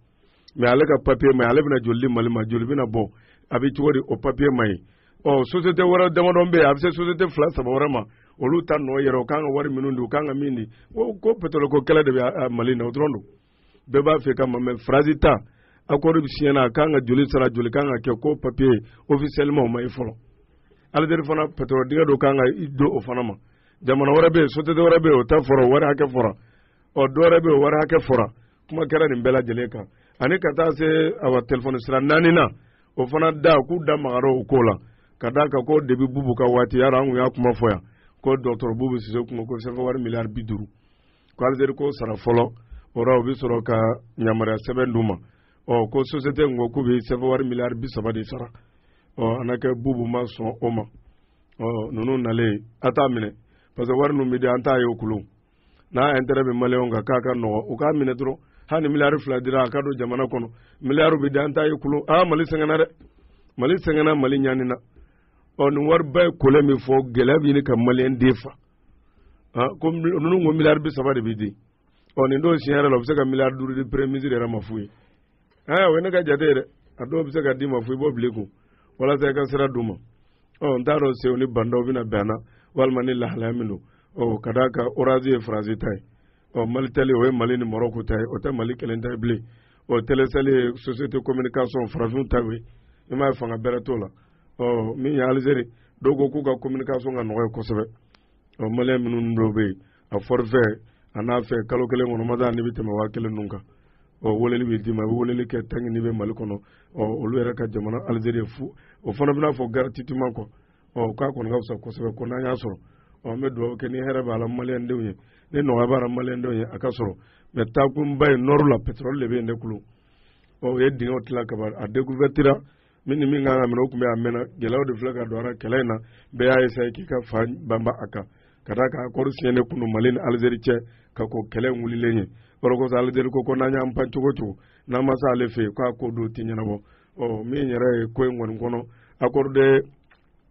mɛ ale ka papiye ma ye ale bɛna joli di mali ma joli bɛna bɔ a bɛ cogo di o papiye ma ye ɔ sosite wɛrɛ damadɔ bɛ yen a bɛ se sosite fila saba wɛrɛ ma olu ta nɔ yera u kan ka wari minnu don u kan ka min di ko ko petɔrɔli ko kɛlɛ de bɛ mali na o dɔrɔn don bɛɛ b'a fɛ ka ma mɛ faransi ta akɔri bɛ siɲɛ na a kan ka joli sara joli kan ka kɛ ko papiye ofisiyɛliman o ma ye fɔlɔ alizeri fana petɔrɔli dingɛ dɔ kan ka d'o fana ma jamana wɛrɛ bɛ yen sosite wɛrɛ bɛ yen o ta fɔra wari hakɛ fɔra ɔ dɔwɛrɛ bɛ yen wari hakɛ fɔra kuma kɛra nin bɛɛ lajɛlen kan ani ka taa se awa telefɔni sira naani na o fana da k'u da magara o ko la ka da kan ko depi bubu ka waati yɛrɛ an kun y'a kuma fɔ yan ko dɔgɔtɔrɔ bubu sise kuma ko sɛbɛn wari miliyari bi duuru ko alizeri k'o sara fɔlɔ o la o bɛ sɔrɔ ka yamaruya sɛbɛn d'u ma ɔ ko sosiyete ko k'u bɛ sɛbɛn wari miliyari bi saba de sara ɔ an ka kɛ bubu ma sɔn o ma ɔ ninnu nalen a t'a minɛ parce que wari ninnu bɛ di an t'a ye o kulu n'a intérêt bɛ maliyɛnw kan k'a ka nɔgɔ u k'a minɛ dɔrɔn hali ni miliyari fila dira a ka don jamana kɔnɔ miliyari bɛ di an t'a ye kulu aa mali sɛgɛnna dɛ mali sɛgɛnna mali ɲanina ɔ nin wariba ye kolɛ min fɔ gɛlɛya bɛ ɲini ka maliyɛn den fa ko ninnu ko miliyari bi saba de bɛ di ɔ nin dɔw siɲɛ yɛrɛ la u bɛ se ka miliyari duuru di premier ministre yɛrɛ ma fu ye aa o ye ne ka jate ye dɛ a dɔw bɛ se ka d'i ma fu i b'o bila i kun walasa i ka sira d'u ma ɔ n t'a dɔn sew ni bandaw bɛna bɛn an na walima ni lahalaya min don ɔ ka d'a kan orazi ye faransi ta ye ɔ malitɛli o ye mali ni marɔku ta ye o tɛ mali kelen ta ye bilen ɔ telesɛli ye société communication farafinw ta ye i m'a ye fanga bɛrɛ t'o la ɔ min ye alizeri dɔw ko k'u ka communication ka nɔgɔ yen kosɛbɛ ɔ maliyɛn minnu dɔw bɛ yen a fɔrifɛ a n'a fɛ kalo kelen kɔnɔ mada ni bɛ tɛmɛ waa kelen ninnu kan ɔ weleli bɛ d'i ma i bɛ weleli kɛ tanki n'i bɛ mali kɔnɔ ɔ olu yɛrɛ ka jamana alizeri fu o fana bɛna fɔ garatitiman kɔ ɔ k'a kɔni ka fisa kosɛbɛ ko n'an y'a sɔrɔ ɔ n bɛ dugawu kɛ ni hɛrɛ b'a la maliyɛndenw ye ni nɔgɔya b'a la maliyɛndenw ye a ka sɔrɔ mɛ taakunba ye nɔri la pɛtɛrɔli de bɛ yen dɛ kulu ɔ u ye dingɛw tila kaban a dekuvɛtira min ni min kan ka minɛ o tun bɛ a mɛnna gɛlɛyaw de filɛ ka don a ra kɛlɛ in na bɛɛ y'a essaye k'i ka fan banba a kan ka da kan accord signé kun don Mali ni Algérie cɛ ka ko kɛlɛ in wulilen ye o de kosɔn Algérie ko ko n'an y'an pan cogo cogo n'an ma se ale fɛ yen k'a ko dɔ tɛ ɲɛnabɔ ɔ min yɛrɛ ye ko in kɔni kɔnɔ accord de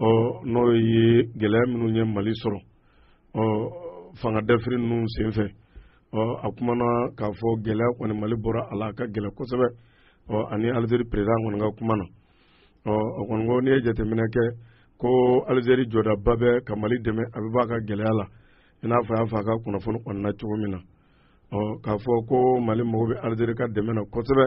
ɔ n'o ye gɛlɛya minnu ye mali sɔrɔ ɔ fanga dafiri ninnu senfɛ ɔ a kumana k'a fɔ gɛlɛya kɔni mali bɔra a la a ka gɛlɛ kosɛbɛ ɔ ani alizeri perezidan kɔni ka kuma na ɔ o kɔni ko n'i ye jateminɛ kɛ ko alizeri jɔdaba bɛ ka mali dɛmɛ a bɛ bɔ a ka gɛlɛya la i n'a fɔ a y'a fɔ a ka kunnafoni kɔnɔna cogo min na ɔ k'a fɔ ko mali mago bɛ alizeri ka dɛmɛ na kosɛbɛ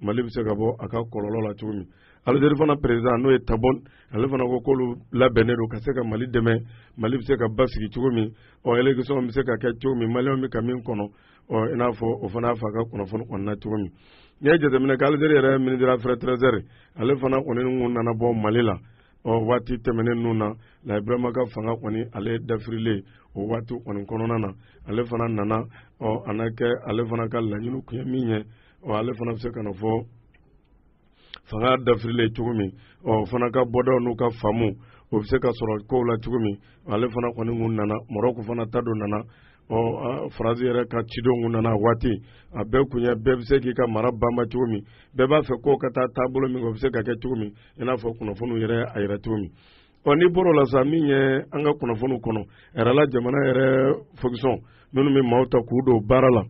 mali bɛ se ka bɔ a ka kɔlɔlɔ la cogo min alizeri fana perezidan n'o ye tabɔn ale fana ko k'olu labɛnnen don ka se ka mali dɛmɛ mali bɛ se ka basigi cogo min ɔ elekisɔn bɛ se ka kɛ cogo min maliyɛnw bɛ ka min kɔnɔ ɔ i n'a fɔ o fana y'a fɔ a ka kunnafoni kɔnɔna na cogo min n'i ye jateminɛ kɛ alizeri yɛrɛ minisiri affaires étrangères ale fana kɔni kun nana bɔ mali la ɔ waati tɛmɛnen ninnu na laji burama ka fanga kɔni ale dafirilen o waati kɔni kɔnɔna na ale fana nana ɔ a na kɛ ale fana ka laɲini kun ye min ye ɔ ale fana bɛ se ka n'a fɔ fanga dafirilen cogo min ɔ o fana ka bɔdaw n'u ka faamu o bɛ se ka sɔrɔ kow la cogo min ale fana kɔni kun nana marɔku fana ta dɔ nana ɔ faransi yɛrɛ ka cidenw kun nana a waati a bɛɛ kun ye bɛɛ bɛ se k'i ka mara banba cogo min bɛɛ b'a fɛ ko ka taa taabolo min o bɛ se ka kɛ cogo min i n'a fɔ kunnafoniw yɛrɛ y'a yira cogo min ɔ n'i bɔr'o la sa min ye an ka kunnafoniw kɔnɔ yɛrɛ la jamana yɛrɛ fokisɔn minnu bɛ maaw ta k'u don baara la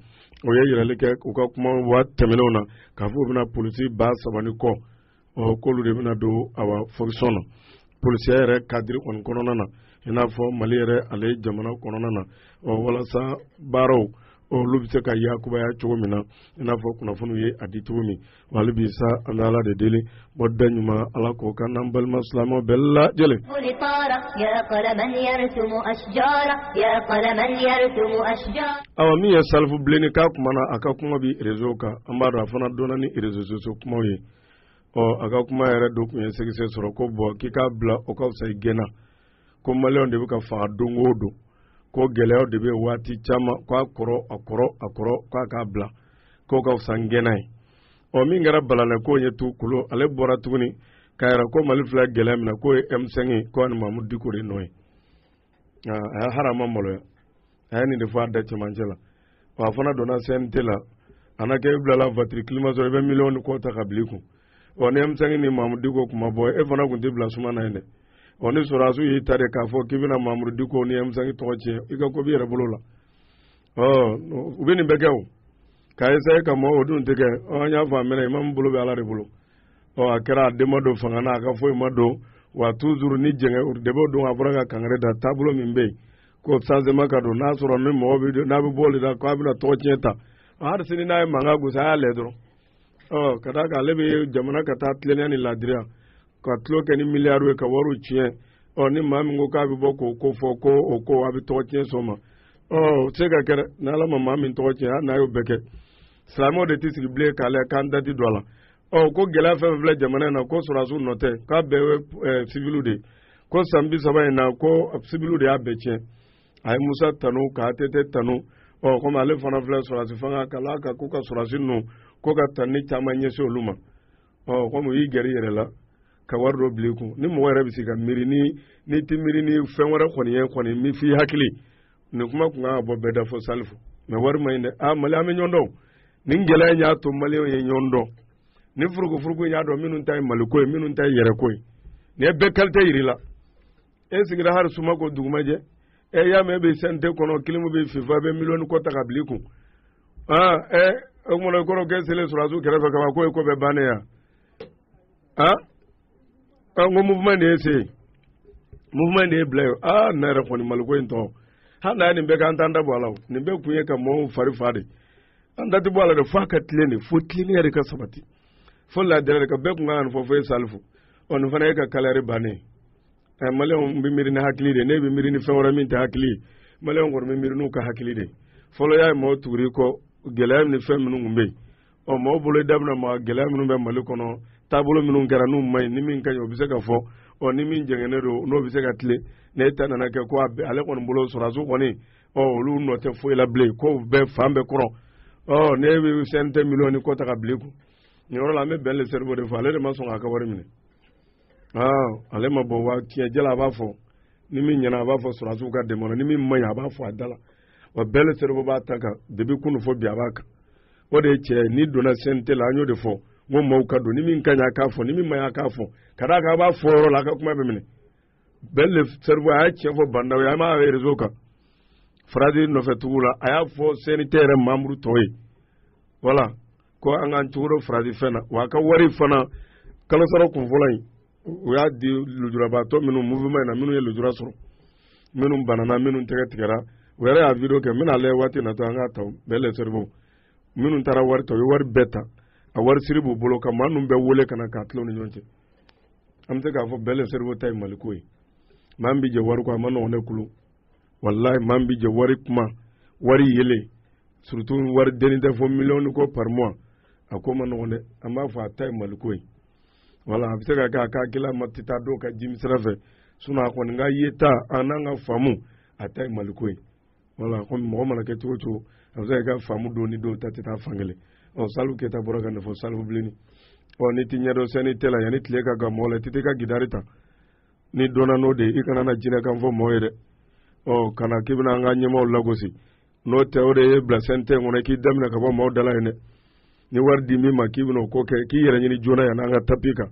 o ye yirali kɛ u ka kumaw tɛmɛnenw na k'a fɔ u bɛna polisi ba saba ni kɔ ɔ k'olu de bɛna don awa fokisɔn na polisiya yɛrɛ kadiri kɔni kɔnɔna na i n'a fɔ mali yɛrɛ ale jamana kɔnɔna na ɔ walasa baaraw olu bɛ se ka yakubaya cogo min na i n'a fɔ kunnafoniw ye a di cogo min wa hali bi sa an bɛ ala de deli bɔda ɲuman ala k'o k'an n'an balima silamɛ bɛɛ lajɛlen. awa min ye salifu bilenni ka kuma na a ka kuma bɛ rezo kan an b'a dɔn a fana donna ni rezo sosiyo kumaw ye ɔ a ka kuma yɛrɛ dɔ kun ye segisɛ sɔrɔ ko bɔn k'i k'a bila o ka fisa i gɛnna. ko maliyɛnw de bɛ ka faga don o don ko gɛlɛyaw de bɛ waati caman k'a kɔrɔ a kɔrɔ a kɔrɔ k'a k'a bila k'o ka fisa gɛnna ye ɔ min kɛra balala k'o ye tu kolo ale bɔra tuguni k'a yira ko mali filɛ gɛlɛya min na k'o ye M5 ye ko ani Mamudu Diko de nɔ ye a yɛrɛ a ma maloya a ye nin de fɔ a da cɛmancɛ la wa a fana donna CNT la a na kɛ i bilala vatiri climatiseur i bɛ miliyɔn ni kɔ ta ka bila i kun ɔ ni M5 ni Mamudu Diko kun ma bɔ e fana kun tɛ bila suma na yen dɛ ɔ ni sɔrɔdasiw y'i ta de k'a fɔ k'i bɛna Mamudu Diko ni M5 tɔgɔ tiɲɛ i ka ko b'i yɛrɛ bolo la ɔ u bɛ nin bɛɛ kɛ o ka essayer ka mɔgɔw o dun tɛ kɛ ɔ an y'a fɔ a mɛnna imamu bolo bɛ Ala de bolo ɔ a kɛra a den ma don fanga na a ka foyi ma don wa toujours ni jɛngɛ debew don a bɔra ka kangari da taabolo min bɛ yen ko changement ka don n'a sɔrɔ ni mɔgɔ bɛ n'a bɛ bɔ de la k'a bɛna tɔgɔ tiɲɛ ta hali sini n'a ye mankan gosi a y'a lajɛ dɔrɔn ɔ ka d'a kan ale bɛ jamana ka taa tilennenya ni laadiriya ka tulon kɛ ni miliyariw ye ka wariw tiɲɛ ɔ ni maa min ko k'a bɛ bɔ k'o ko fɔ ko o ko a bɛ tɔgɔ tiɲɛ sɔn ma ɔ o tɛ se ka kɛ dɛ ni ala ma maa min tɔgɔ tiɲɛ hali n'a y'o bɛɛ kɛ silamɛw de tɛ sigi bilen k'a lajɛ k'an dati don a la ɔ ko gɛlɛya fɛn fɛn filɛ jamana in na ko sɔrɔdasiw nɔ tɛ k'a bɛɛ ye siviliw de ye ko san bi saba in na ko sibiliw de y'a bɛɛ tiɲɛ a ye musa tanu ka ATT tanu ɔ komi ale fana filɛ sɔrɔdasi fanga ka la ka ko ka sɔrɔdasi ninnu ko ka tanuni caman ɲɛsin olu ma ɔ komi u y'i gɛrɛ i yɛrɛ la ka wari dɔ bila i kun ni mɔgɔ yɛrɛ bɛ se ka miiri ni n'i tɛ miiri ni fɛn wɛrɛ kɔni ye kɔni min f'i hakili nin kuma tun kan ka bɔ bɛɛ da fɔ salifu mɛ wari ma ɲi dɛ aa mali an bɛ ɲɔgɔn dɔn nin gɛlɛya in y'a to maliyɛnw ye ɲɔgɔn dɔn ni furukufuruku in y'a dɔn minnu ta ye maliko ye minnu ta ye yɛrɛko ye nin ye bɛɛ kalite yir'i la e sigira hali suma ko dugumajɛ e y'a mɛn e bɛ CNT kɔnɔ kilimu b'i fifa i bɛ miliyɔn kɔ ta ka bila i kun aa ɛ o kumana i kɔrɔ kɛ selen sɔrɔdasiw kɛrɛfɛ kama k'o ye ko bɛɛ bannen yan aa ɔ n ko mouvement de ye se mouvement de ye bila ye aa ne yɛrɛ kɔni maliko in tɔn hali n'a ye nin bɛɛ kɛ an t'an da bɔ a la nin bɛɛ kun ye ka mɔɔw fari fa de an da tɛ bɔ a la dɛ f'a ka tilen de fo tilennenya de ka sabati fo laadiriya de ka bɛɛ tun ka kan ka nin fɔ fo e salifu ɔ nin fana y'i ka carrière bannen ɛ maliyɛnw bɛ miiri ni hakili de n'e bɛ miiri ni fɛn wɛrɛ min tɛ hakili ye maliyɛnw kɔni bɛ miiri n'u ka hakili de fɔlɔ y'a ye mɔgɔw tugur'i kɔ gɛlɛya ni fɛn minnu tun bɛ yen ɔ maaw bolo daminɛ ma gɛlɛya minnu bɛ mali kɔnɔ taabolo minnu kɛra n'u ma ɲi ni min ka ɲi o bɛ se ka fɔ ɔ ni min jɛngɛnnen don n'o bɛ se ka tilen n'e ta nana kɛ ko ale kɔni bolo sɔrɔdasiw kɔni ɔ olu nɔ tɛ foyi la bilen ko bɛɛ fan bɛɛ kɔrɔ ɔ n'e bɛ CNT miliyɔn ni kɔ ta ka bila i kun nin yɔrɔ la an bɛ ben le cerveau de fɔ ale de ma sɔn k'a ka wari minɛ ale ma bɔ wa tiɲɛ jɛlen a b'a fɔ ni min ɲɛna a b'a fɔ sɔrɔdasiw ka dɛmɛ na ni min man ɲi a b'a fɔ a da la wa ben le cerveau b'a ta kan depuis kunun fɔ bi a b'a kan o de ye cɛ n'i donna CNT la an y'o de fɔ n ko maaw ka don ni min ka ɲi a k'a fɔ ni min man ɲi a k'a fɔ ka d'a kan a b'a fɔ yɔrɔ la a ka kuma bɛ minɛ ben le cerveau a ye tiɲɛ fɔ ba ndaw ye an b'a rezo kan faransi nɔfɛ tugu la a y'a fɔ CNT yɛrɛ membre tɔw ye wala ko an k'an cogoro farati fɛn na wa a ka wari fana kalo sara kun fɔlɔ in u y'a di lujurabaatɔ minnu mouvement na minnu ye lujura sɔrɔ minnu banana minnu tɛgɛ tigɛra u yɛrɛ y'a video kɛ n bɛna lajɛ waati natɔ an k'a ta ben le cerveau minnu taara wari ta u ye wari bɛɛ ta a wari siri b'u bolo ka maa ninnu bɛɛ wele ka na k'a tila u ni ɲɔgɔn cɛ an bɛ se k'a fɔ ben le cerveau ta ye maliko ye maa min bɛ jɛ wari kɔ a man nɔgɔn ne kulu walayi maa min bɛ jɛ wari kuma wari yelen surtout wari dennin tɛ fɔ miliyɔn kɔ par mois a ko man nɔgɔn dɛ an b'a fɔ a ta ye maliko ye wala a bɛ se ka kɛ a ka hakilila ma tɛ taa dɔw ka jimi sira fɛ sinɔn a kɔni ka ye ta an n'an ka faamu a ta ye maliko ye wala kɔmi mɔgɔ mana kɛ cogo o cogo a bɛ se ka kɛ faamu don ni dɔw ta tɛ taa fan kelen ɔ salifu keyita bɔra ka nin fɔ salifu bilenni ɔ n'i t'i ɲɛdɔn CNT la yanni tile ka gan mɔgɔ la i tɛ taa i ka gitari ta ni donna n'o de i kana na jinɛkan fɔ mɔgɔ ye dɛ ɔ kana k'i bɛna an ka ɲɛmɔgɔw lagosi n'o tɛ o de y'e bila sɛntɛ kɔnɔ k'i da minɛ ka bɔ mɔgɔw da la yen dɛ ni wari di min ma k'i bɛna o ko kɛ k'i yɛrɛ ɲini joona yan n'an ka tapi kan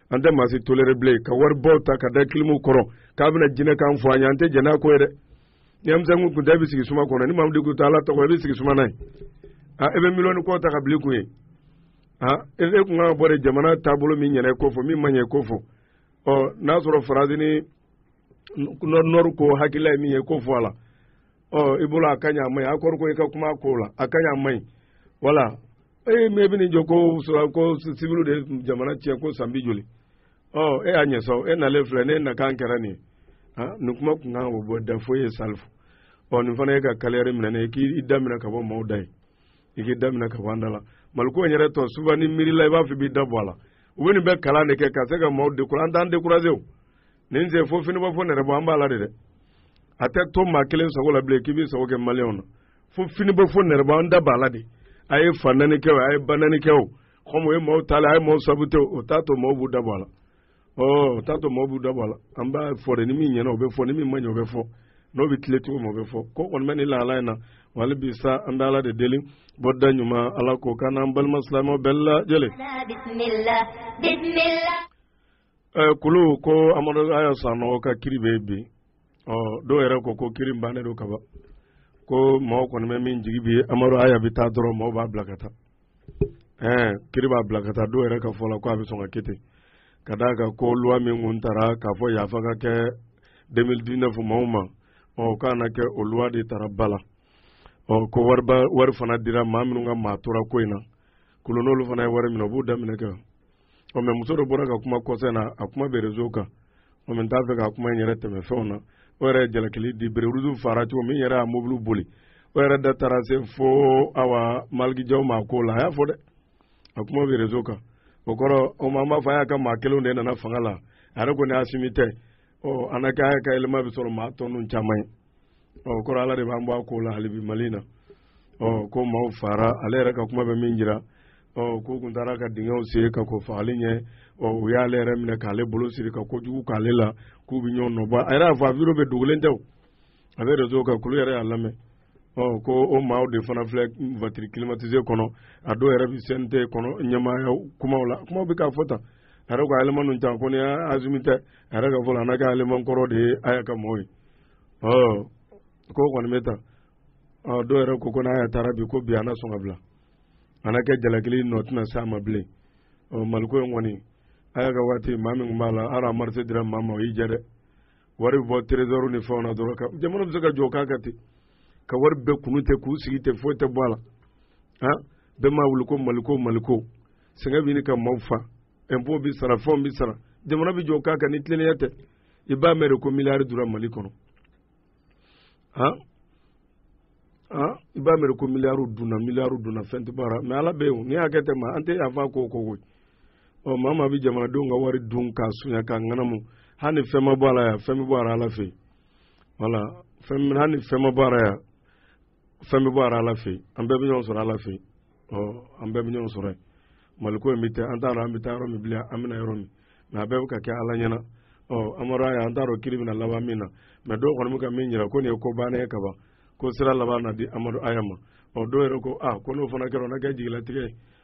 an tɛ maa si tolere bilen ka wari bɔw ta ka da kilimu kɔrɔ k'a bɛna jinɛkan fɔ an ye an tɛ jɛn n'a ko ye dɛ ni amisɛnkun kun tɛ i bɛ sigi suma kɔnɔ ni mamadu kun tɛ ala tɔgɔ i bɛ sigi suma n'a ye a e bɛ miliyɔni kɔ ta ka bila i kun ye a e kun kan ka bɔ de jamana taabolo min ɲɛna e k'o fɔ min ma ɲɛ e k'o fɔ ɔ n'a sɔrɔ faransi ni nɔri ko hakilila ye min ye k'o fɔ a la ɔ i bolo a ka ɲi a man ɲi a kɔrɔ ko i ka kuma ko la a ka ɲi a man ɲi wala ee mɛ i bɛ nin jɔ ko sɔrɔ ko sibiliw de jamana tiɲɛ ko san bi joli ɔ e y'a ɲɛ sɔrɔ e nalen filɛ ne nakan kɛra nin ye ah nin kuma kun kan ka bɔ da foyi ye salifu ɔ nin fana ye ka kaliyari minɛ ne ye k'i da minɛ ka bɔ maaw da ye i k'i da minɛ ka bɔ an da la mali ko in yɛrɛ tɔ suba n'i miirila i b'a fɔ i b'i da bɔ a la u bɛ nin bɛɛ kalan de kɛ ka se ka maaw dekura an t'an dekuraze o nin sen fo finiba fo nɛrɛbɔ an b'a la de dɛ a tɛ to maa kelen sago la bilen k'i b'i sago kɛ maliyɛnw na fo finiba fo nɛrɛbɔ an da b'a la de a ye fa naani kɛ o a ye ba naani kɛ o kɔmi o ye maaw ta la a ye maaw sabu tɛ o t'a to maaw b'u da bɔ a la ɔ t'a to maaw b'u dabɔ a la an b'a fɔ de ni min ɲɛna o bɛ fɔ ni min ma ɲɛ o bɛ fɔ n'o bɛ tiletigi ma o bɛ fɔ ko kɔni bɛ ni lahala in na wa hali bi sa an bɛ ala de deli bɔda ɲuman ala k'o kɛ an n'an balima silamɛw bɛɛ lajɛlen. ɛ kulu ko amadu aya sanɔgɔ ka kiri bɛ bi ɔ dɔw yɛrɛ ko ko kiri bannen don kaban ko mɔɔ kɔni bɛ min jigi bi amadu aya bɛ taa dɔrɔn mɔɔ b'a bila ka taa ɛɛ kiri b'a bila ka taa dɔw yɛrɛ ka fɔ la ko a bɛ sɔn ka kɛ ten ka d'a kan ko luwa min kun taara k'a fɔ yafa ka kɛ 2019 maaw ma ɔ k'a na kɛ o luwa de taara ba la ɔ ko wariba wari fana dira maa minnu ka maa tora ko in na kulu n'olu fana ye wari minɛ u b'u da minɛ kɛ ɔ mɛ muso dɔ bɔra ka kuma kɔsa in na a kuma bɛ rezo kan ɔ mɛ n t'a fɛ ka kuma in yɛrɛ tɛmɛ fɛnw na o yɛrɛ ye jalakili di bereruzu faara cogo min yɛrɛ y'a mobiliw boli o yɛrɛ da taara se fo awa maliki jaw ma ko la a y'a fɔ dɛ a kuma bɛ rezo kan o kɔrɔ o ma an b'a fɔ aya ka maa kelenw de nana fanga la a yɛrɛ ko ni asimi tɛ ɔ an ka ka yɛlɛma bɛ sɔrɔ maa tɔninw caman ye ɔ o kɔrɔ ala de b'an bɔ a ko la halibi mali in na ɔ ko maaw faara ale yɛrɛ ka kuma bɛ min jira ɔ k'u kun taara ka dingɛw sen ka kɔn fagali ɲɛ ɔ u y'ale yɛrɛ minɛ k'ale bolo siri ka kojugu k'ale la k'u bɛ ɲɔgɔn nɔbɔ a yɛrɛ y'a fɔ a biro bɛ dogolen tɛ o a bɛ rezo kan kulu yɛrɛ y'a lamɛn ɔ ko o maaw de fana filɛ vatiri kilimatise kɔnɔ a dɔw yɛrɛ bɛ sɛnte kɔnɔ ɲɛmaaya kumaw la kumaw bɛ k'a fɔ tan a yɛrɛ ko eleman ninnu ta ko ni asimi tɛ a yɛrɛ ka fɔ la n'a ka eleman kɔrɔ de ye aya ka mɔgɔw ye ɔ k'o kɔni bɛ tan dɔw yɛrɛ ko ko n'aya taara bi ko bi an na sɔn ka bila an na kɛ jalakili nɔ tɛna se a ma bilen maliko in kɔni aya ka waati maa min tun b'a la hali a marché dira maa ma o y'i jɛ dɛ wari bɛ bɔ trésor ni fɛnw na dɔrɔn ka jamana bɛ se ka jɔ k'a kɛ ten ka wari bɛɛ kunu tɛ k'u sigi tɛ foyi tɛ bɔ a la han bɛɛ m'a wuli ko maliko maliko sɛgɛn bɛ ɲini ka maaw fa impôt bɛ sara fɛnw bɛ sara jamana bɛ jɔ k'a kɛ ni tilennenya tɛ i b'a mɛn de ko miliyari dura mali kɔnɔ han han i b'a mɛn de ko miliyariw dunna miliyariw dunna fɛn tɛ bɔ a la mɛ ala bɛ yen n'i y'a kɛ tɛ ma an tɛ yafa ko ko koyi ɔ maa maa bɛ jamanadenw ka wari dun k'a sunya k'a ŋanamu hali ni fɛn ma bɔ a la yan fɛn bɛ bɔ a la ala fɛ yen wala fɛn hali ni fɛn ma bɔ a la yan fɛn bɛ bɔ a la ala fɛ an bɛɛ bɛ ɲɔgɔn sɔrɔ ala fɛ ɔ an bɛɛ bɛ ɲɔgɔn sɔrɔ yen maliko in bɛ ten an t'a dɔn an bɛ taa yɔrɔ min bilen an bɛ na yɔrɔ min mɛ a bɛɛ bɛ ka kɛ ala ɲɛna ɔ amadu aya an t'a dɔn kiri bɛna laban min na mɛ dɔw kɔni bɛ ka min jira ko nin ye ko bannen ye kaban ko sira laban na di amadu aya ma ɔ dɔw yɛrɛ ko a ko n'o fana kɛra o na kɛ jigilatigɛ ye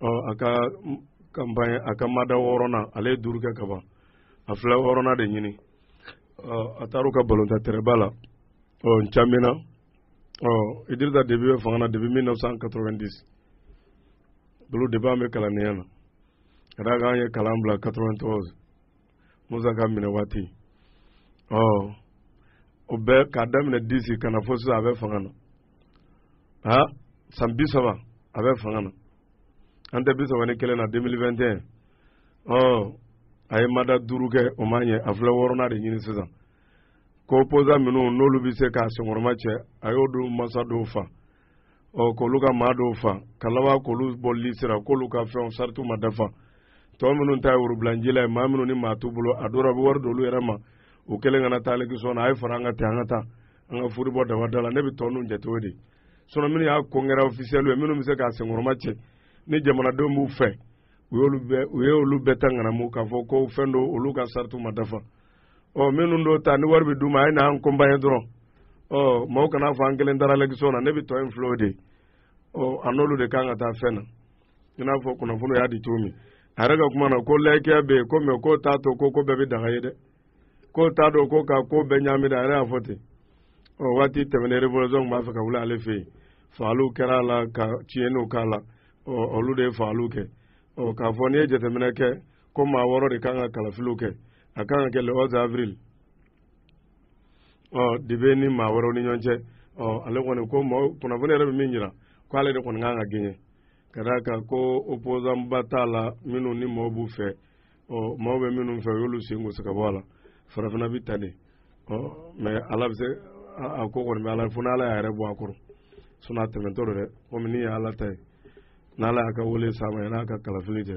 ɔ a ka kanpaɲɛ a ka mada wɔɔrɔnan ale ye duuru kɛ ka ban a filɛ wɔɔrɔnan de ɲini ɔ a taar'u ka balontan tɛrɛnba la ɔ n'djamena ɔ idirisa debi bɛ fanga na depuis 1990 bolo depuis an bɛ kalannenya na ka d'a kan an ye kalan bila 93 musa ka minɛ waati ɔ o bɛɛ k'a daminɛ disi ka na fo sisan a bɛ fanga na ha san bi saba a bɛ fanga na an tɛ bi saba ni kelen na 2021 ɔ a ye mada duuru kɛ o ma ɲɛ a filɛ wɔɔrɔnan de ɲini sisan ko opposant minnu n'olu bɛ se k'a senkɔrɔma cɛ a y'o don masa dɔw fa ɔ k'olu ka maa dɔw fa ka laban k'olu bɔ lisi la k'olu ka fɛnw saritiw ma dafa tɔ minnu ta ye worobilanjila ye maa minnu ni maa t'u bolo a dɔw la a bɛ wari d'olu yɛrɛ ma u kelen kana taa élection na a ye fara an kan ten an ka taa an ka furu bɔ daba da la ne bɛ tɔ ninnu jate o de sinɔn minnu y'a concurrent ofisiyɛliw ye minnu bɛ se k'a senkɔrɔma cɛ ni jamanadenw b'u fɛ u y'olu bɛɛ u ye olu bɛɛ ta ŋanamu k'a fɔ ko fɛn don olu ka saritiw ma dafa ɔ minnu dɔw ta ni wari bɛ d'u ma a ye na an kɔnpaɲe dɔrɔn ɔ maaw kana fɔ an kelen taara élection na ne bɛ tɔ in filɛ o de ɔ a n'olu de kan ka taa fɛn na i n'a fɔ kunnafoni y'a di cogo min a yɛrɛ ka kuma na ko layikiya bɛ yen ko mɛ k'o t'a to ko ko bɛɛ bɛ daga ye dɛ k'o t'a dɔn ko ka ko bɛɛ ɲaami dɛ a yɛrɛ y'a fɔ ten ɔ waati tɛmɛnen revolisiɔn b'a fɛ ka wuli ale fɛ yen fagaliw kɛra a la ka tiɲɛniw k'a la ɔ olu de ye fagaliw kɛ ɔ k'a fɔ n'i ye jateminɛ kɛ ko maa wɔɔrɔ de kan ka kalafiliw kɛ a kan ka kɛ le 11 avril ɔ debi ni maa wɔɔrɔ ni ɲɔgɔn cɛ ɔ ale kɔni ko mɔɔ kunnafoni yɛrɛ bɛ min jira ko ale de kɔni kan ka gagner ka d'a kan ko opposant ba t'a la minnu ni mɔɔw b'u fɛ ɔ mɔɔw bɛ minnu fɛ u y'olu sen gosi ka bɔ a la farafina bɛ tan de ɔ mɛ ala bɛ se a ko kɔni bɛ ala fo n'ala y'a yɛrɛ bɔ a kɔrɔ sinon a tɛmɛtɔ don dɛ komi ni ye ala ta ye n'ala y'a ka wele s'a ma yan'a ka kalafili cɛ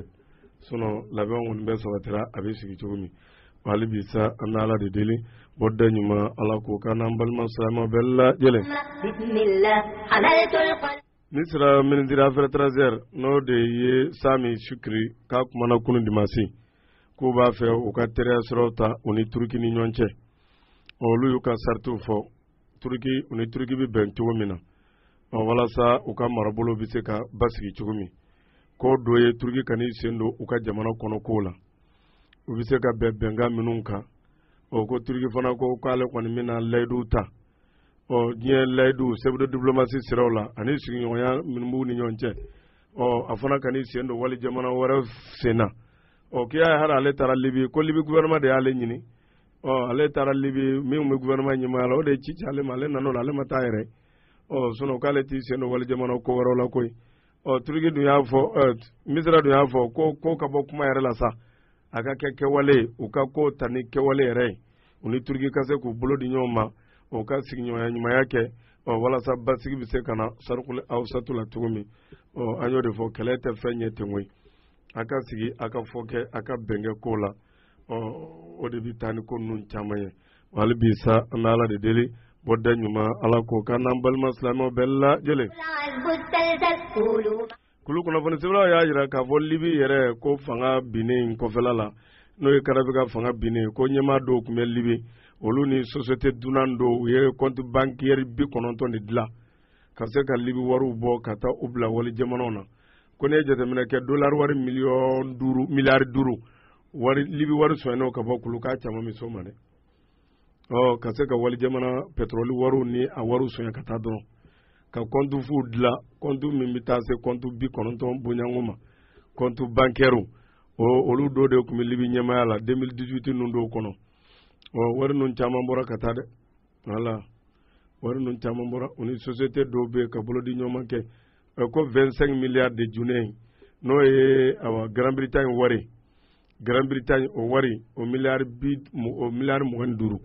sinon labɛn kɔni bɛɛ sabatira a bɛ sigi cogo min hali bi sa an bɛ ala de deli bɔ da ɲuman ala k'o k'an n'an balima silamɛw bɛɛ lajɛlen misira ministre affaires étrangères n'o de ye sami sukiri k'a kumana kunun dimasi k'u b'a fɛ u ka teriya siraw ta u ni turuki ni ɲɔgɔn cɛ olu y'u ka saritiw fɔ turuki u ni turuki bɛ bɛn cogo min na walasa u ka marabolo bɛ se ka basigi cogo min k'o dɔ ye turuki kan'i sen don u ka jamana kɔnɔ kow la u bɛ se ka bɛn bɛnkan minnu kan ɔ ko turuki fana ko k'ale kɔni bɛna layiduw ta ɔ diɲɛ layiduw sɛbɛdo diplomasi siraw la ani sigiɲɔgɔnya minnu b'u ni ɲɔgɔn cɛ ɔ a fana kan'i sen don wali jamana wɛrɛ sen na ɔ k'i y'a ye hali ale taara libi ko libi gouvernement de y'ale ɲini ɔ ale taara libi min bɛ gouvernement ɲɛmaaya la o de ye ci ci ale ma ale nan'o la ale ma taa yɛrɛ ɔ sinon k'ale t'i sen don wali jamana ko wɛrɛw la koyi ɔ turiki dun y'a fɔ misira dun y'a fɔ ko ko ka bɔ kuma yɛrɛ la sa a ka kɛ kɛwale ye u ka ko ta ni kɛwale yɛrɛ ye u ni turiki ka se k'u bolo di ɲɔgɔn ma u ka sigiɲɔgɔnya ɲumanya kɛ ɔ walasa basigi bɛ se ka na sarikuli awusatu la cogo min ɔ an y'o de fɔ kɛlɛ tɛ fɛn ɲɛ ten koyi a ka sigi a ka fɔ kɛ a ka bɛn kɛ ko la ɔ o de bɛ taa ni ko ninnu caman ye hali bi sa an bɛ ala de deli bɔ da ɲuman ala k'o k'an n'an balima silamɛw bɛɛ lajɛlen kulu kunnafoni sɛbɛlaw y'a jira k'a fɔ libi yɛrɛ ko fanga binnen in kɔfɛla la n'o ye kadafi ka fanga binnen ko ɲɛmaa dɔw tun bɛ libi olu ni sosiyete dunan dɔw u ye compte bancaire bi kɔnɔntɔn de dilan ka se ka libi wariw bɔ ka taa u bila wali jamanaw na ko n'i ye jateminɛ kɛ dolari wari miliyɔn duuru miliyari duuru wari libi wari sonyana ka bɔ kulu k'a caman bɛ so ma dɛ ɔ ka se ka wali jamana pɛtɔrɔli wariw ni a wariw sonya ka taa dɔrɔn ka compte fu dilan compte min bɛ taa se compte bi kɔnɔntɔn bɔɲɔgɔnko ma comptes bancaires o olu dɔw de tun bɛ libi ɲɛmaaya la 2018 ninnu dɔw kɔnɔ ɔ wari ninnu caman bɔra ka taa dɛ wala wari ninnu caman bɔra u ni sosiyete dɔw bɛ ka bolodiɲɔgɔnma kɛ ko 25 miliyari de juneyi n'o ye awa grand bretagne wari grand bretagne o wari o miliyari bi o miliyari mugan ni duuru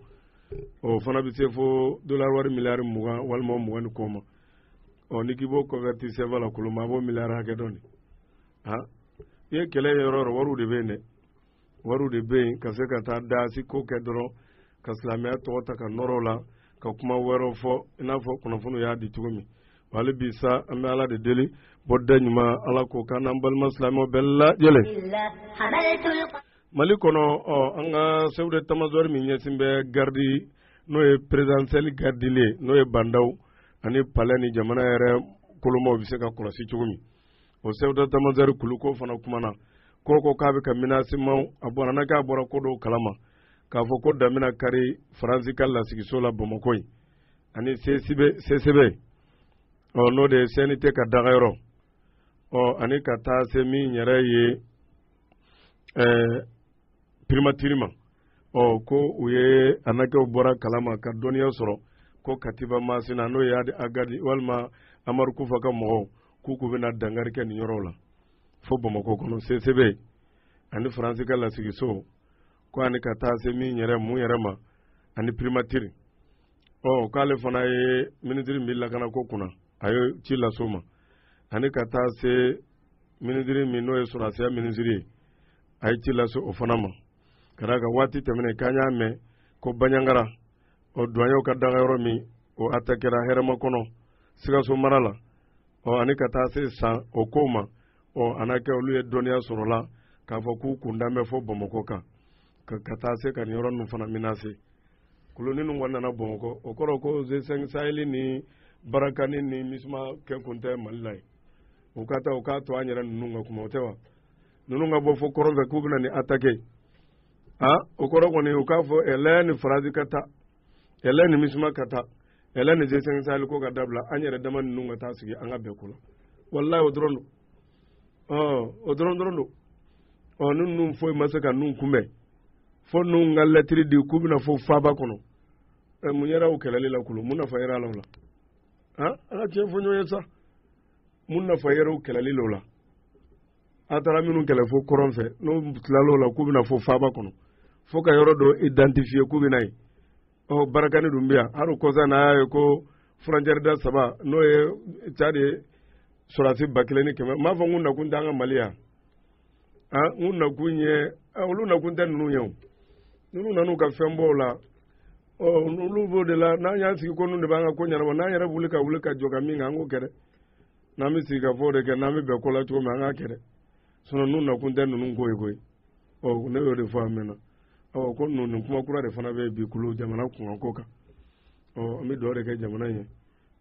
o fana bɛ se fo dolari wari miliyari mugan walima mugan ni kɔ ma ɔ ni k'i b'o kɔnvɛriti sɛfa la kolonba a b'o miliyari hakɛ dɔn de i ye kɛlɛ yɔrɔ yɔrɔ wariw de bɛ yen dɛ wariw de bɛ yen ka se ka taa daasi ko kɛ dɔrɔn ka silamɛya tɔgɔ ta ka nɔrɔ u la ka kuma wɛrɛw fɔ i n'a fɔ kunnafoni y'a di cogo min wala bi sa an bɛ ala de deli bɔda ɲuman ala k'o k'an n'an balima silamɛ bɛɛ lajɛlen mali kɔnɔ ɔ an ka sɛfu detamazɔri min ɲɛsin bɛ garidi n'o ye perezidansiyɛli garidili ye n'o ye bandaw ani palɛ ni jamana yɛrɛ kolomaw bɛ se ka kɔlɔsi cogo min o sɛfu detamazɔri kulu ko fana kumana ko ko k'a bɛ ka minasiman a bɔra n'a k'a bɔra ko dɔw kalama k'a fɔ ko damina kari faransi ka lasigiso la bamakɔ yen ani sesebe ɔ n'o de ye sɛnite ka dagayɔrɔ ɔ ani ka taa se min yɛrɛ ye ɛɛ pirimatiri ma ɔ ko u ye a n'a kɛ u bɔra kalama ka dɔnniya sɔrɔ ko katiba masina n'o ye agali walima amadu kufa ka mɔgɔw k'u k'u bɛna dangari kɛ nin yɔrɔ la fo bamakɔ kɔnɔ sesebe ani faransi ka lasigiso ko ani ka taa se min yɛrɛ mun yɛrɛ ma ani primatiri ɔ k'ale fana ye minisiri min bɛ lakana ko kunna a ye ci lase o ma ani ka taa se minisiri min n'o ye sɔrɔdasiya minisiri ye a ye ci lase o fana ma ka d'a kan waati tɛmɛnen k'an y'a mɛn ko baɲangara ɔ duwaɲɛw ka dagayɔrɔ min o atakera hɛrɛmakɔnɔ sikaso mara la ɔ ani ka taa se san o ko ma ɔ a n'a kɛ olu ye dɔnniya sɔrɔ a la k'a fɔ k'u kunda bɛ fo bamakɔ kan ka ka taa se ka nin yɔrɔ ninnu fana minase koloni ninnu kɔni nana bamakɔ o kɔrɔ ko zesɛn saheli ni barakani ni misima kɛ kun tɛ mali la ye u ka taa u k'a to an yɛrɛ ninnu ka kuma o tɛ wa ninnu ka bɔ fo kɔrɔn fɛ k'u bɛna nin atake a o kɔrɔ kɔni u k'a fɔ ɛlɛ ni faransi ka taa ɛlɛ ni misima ka taa ɛlɛ ni zesɛn saheli ko ka dabila an yɛrɛ dama ninnu ka taa sigi an ka bɛɛ kɔnɔ walayi o dɔrɔn don ɔ o dɔrɔn dɔrɔn don ɔ ni ninnu foyi ma se ka ninnu kunbɛn fo ninnu ka lɛtiri di k'u bɛna fo faaba kɔnɔ ɛ mun yɛrɛ o kɛlɛli la kulu mun nafa yɛrɛ a la o la an ka tiɲɛ fɔ ɲɔgɔn ye sa mun nafa yɛrɛ o kɛlɛli la o la a taara minnu kɛlɛ fo kɔrɔn fɛ n'u tilala o la k'u bɛna fo faaba kɔnɔ fo ka yɔrɔ dɔ identifiye k'u bɛna yen ɔ barakani dun bɛ yan hali kɔsa n'a y'a ye ko furɔntiyɛri da saba n'o ye cadi ye sɔrɔdasi ba kelen ni kɛmɛ n b'a fɔ n ko nakun t'an ka mali yan a n ko nakun ye olu nakun tɛ ninnu ye o ninnu nan'u ka fɛn bɔ o la ɔ olu b'o de la n'an y'an sigi ko ninnu de b'an ka ko ɲɛnabɔ n'an yɛrɛ wuli ka wuli ka jɔ ka min kan an k'o kɛ dɛ n'an bɛ sigikafɔ de kɛ n'an bɛ bɛn ko la cogo min an k'a kɛ dɛ sinɔn ninnu nakun tɛ ninnu ko ye koyi ɔ ne y'o de fɔ a mɛnna ɔ ko ninnu nin kuma kura de fana bɛ bi kulu jamana kunkanko kan ɔ an bɛ dugawu de kɛ jamana in ye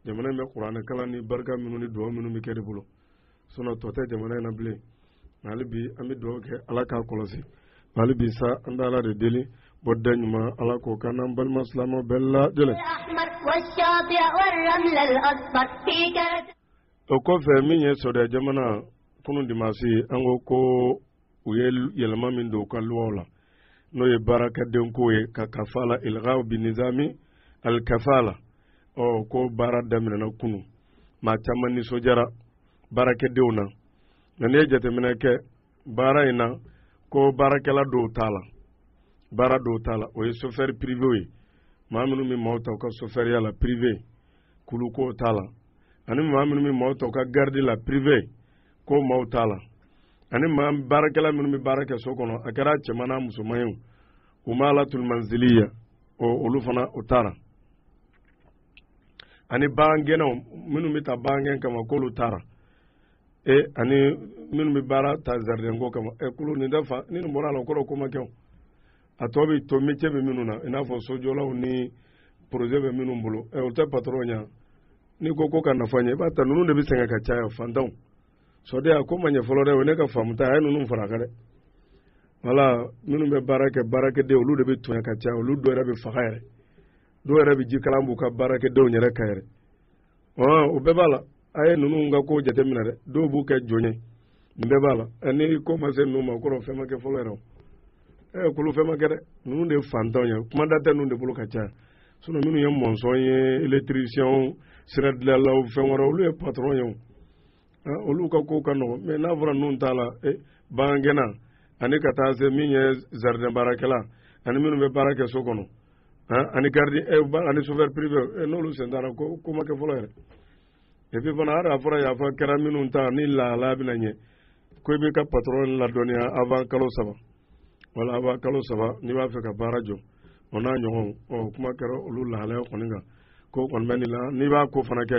jamana in bɛ kuranɛ kalan ni barika minnu ni dugawu minnu bɛ kɛ de bolo sinɔn tɔ tɛ jamana in na bilen hali bi an bɛ dugawu kɛ ala k'a kɔlɔsi hali bi sa an bɛ ala de deli bɔda ɲuman ala k'o k'an n'an balima silamɛ bɛɛ lajɛlen o kɔfɛ min ye sawudiya jamana kunun dimasi an ko ko u ye yɛlɛma min don u ka luwaw la n'o ye baarakɛden ko ye ka kafala ilgaw bi nizami alikafala ɔ ko baara daminɛna kunu maa caman nisɔndiyara baarakɛdenw na nka n'i ye jateminɛ kɛ baara in na ko baarakɛla dɔw t'a la baara dɔw t'a la o ye sofɛri pirivew ye maa minnu bɛ maaw ta u ka sofɛriya la pirive k'olu ko t'a la ani maa minnu bɛ maaw ta u ka garidi la pirive k'o maaw t'a la ani maa baarakɛla minnu bɛ baara kɛ so kɔnɔ a kɛra cɛman n'a musoman ye umalatul manziliya o olu fana o t'a la ani bagangɛnnaw minnu bɛ ta bagangɛn kama k'olu t'a la ee ani minnu bɛ baara ta zaridɛnko kama ɛ kulu nin dafa ni nin bɔra a la o kɔrɔ ko ma kɛ o a tɔ bɛ to métier bɛ minnu na i n'a fɔ sojɔlaw ni projet bɛ minnu bolo ɛ o tɛ patron ye n'i ko ko ka nafa ɲɛ i b'a ta ninnu de bɛ sɛgɛn ka caya fantanw sawudiya ko ma ɲɛ fɔlɔ dɛ o ne ka faamu ta a ye ninnu fara a kan dɛ wala minnu bɛ baara kɛ baarakɛden olu de bɛ tɔɲɔ ka caya olu dɔw yɛrɛ bɛ faga yɛrɛ dɔw yɛrɛ bɛ jikalan b'u ka baarakɛdenw yɛrɛ kan yɛrɛ o bɛɛ b'a la a ye ninnu ka ko jateminɛ dɛ dɔw b'u kɛ jɔn ye nin bɛɛ b'a la ni ko ma se ninnu ma o kɔrɔ fɛn ma kɛ fɔlɔ yɛrɛ o ɛ kulu fɛn ma kɛ dɛ ninnu de ye fantanw ye kumada tɛ ninnu de bolo ka caya sinɔn minnu ye mɔnsɔn ye elekitirisiɲɛw siradilanlaw fɛn wɛrɛ olu ye patɔrɔn ye o olu ka ko ka nɔgɔ mɛ n'a fɔra ninnu t'a la e, bagangɛnna ani ka taa se min ye zaridɛn baarakɛla ani minnu bɛ baara kɛ so kɔnɔ ani garidi e, ani sofɛri pirive e, n'olu sen t'a la ko ko ma kɛ fɔlɔ yɛrɛ epi fana hali a fɔra yafa kɛra minnu ta ni lahalaya bɛna ɲɛ ko i bɛ ka patɔrɔn ladɔnniya avan kalo saba wala avan kalo saba n'i b'a fɛ ka baara jɔ o n'a ɲɔgɔn ɔ kuma kɛra olu lahalaya kɔni kan ko kɔni bɛ nin la n'i b'a ko fana kɛ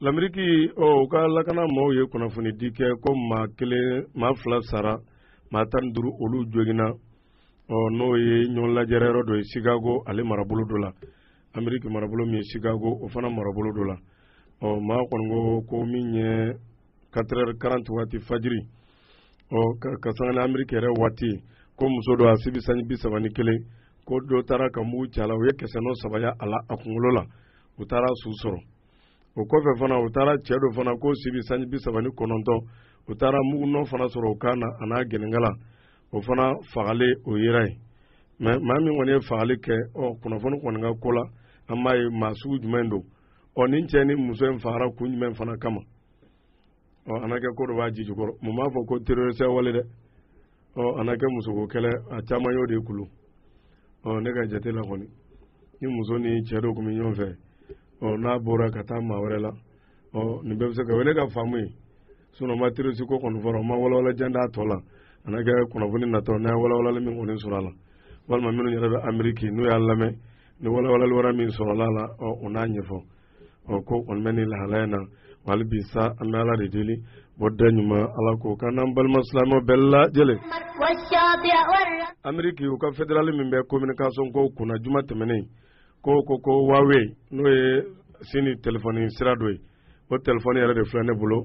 Lamriki ɔ u ka lakana maaw ye kunnafoni di kɛ ko maa kelen maa fila sara maa tan ni duuru olu jogina ɔ n'o ye ɲɔgɔn lajɛrɛ yɔrɔ dɔ ye sikago ale marabolo dɔ la ameriki marabolo min ye sikago o fana marabolo dɔ la ɔ maa kɔni ko ko min ye katerɛri karanti waati fajiri ɔ ka sanga ni ameriki yɛrɛ waati ko muso dɔ a si bi sanji bi saba ni kelen ko dɔ taara ka mugu c'a la u ye kɛsɛnɔ saba y'a la a kunkolo la u taara su sɔrɔ o kɔfɛ fana u taara cɛ dɔ fana k'o si bi sanji bi saba ni kɔnɔntɔn u taara mugunɔ fana sɔrɔ o kan na a n'a gɛnɛnkala o fana fagalen o yera yen mɛ maa min kɔni ye fagali kɛ ɔ kunnafoni kɔni ka ko la an m'a ye maa sugu jumɛn don ɔ nin cɛ ni muso in fagara kun jumɛn fana kama ɔ a na kɛ ko dɔ b'a ji jukɔrɔ maa m'a fɔ ko terorisi wale dɛ ɔ a na kɛ musoko kɛlɛ a caman y'o de kulu ɔ ne ka jate la kɔni ni muso ni cɛ dɔ tun bɛ ɲɔgɔn fɛ ɔ n'a bɔra ka taa maa wɛrɛ la ɔ nin bɛɛ bɛ se ka o ye ne ka faamu ye sinɔn ma terorisi ko kɔni fɔra u ma walawala jan d'a tɔ la a na kɛ kunnafoni natɔ n'an ye walawalali min kɔni sɔrɔ a la walima minnu yɛrɛ bɛ ameriki n'u y'a lamɛn ni walawalali wɛrɛ min sɔrɔla la ɔ u n'a ɲɛfɔ ɔ ko o mɛn ni lahalaya in na wali bi sa an bɛ ala de deli bɔda ɲuman ala k'o k'an n'an balima silamɛ bɛɛ lajɛlen ameriki u ka federali min bɛ communication kow kunna juma tɛmɛnen ko ko ko wawe n'o ye sini telefɔni sira dɔ ye o telefɔni yɛrɛ de filɛ ne bolo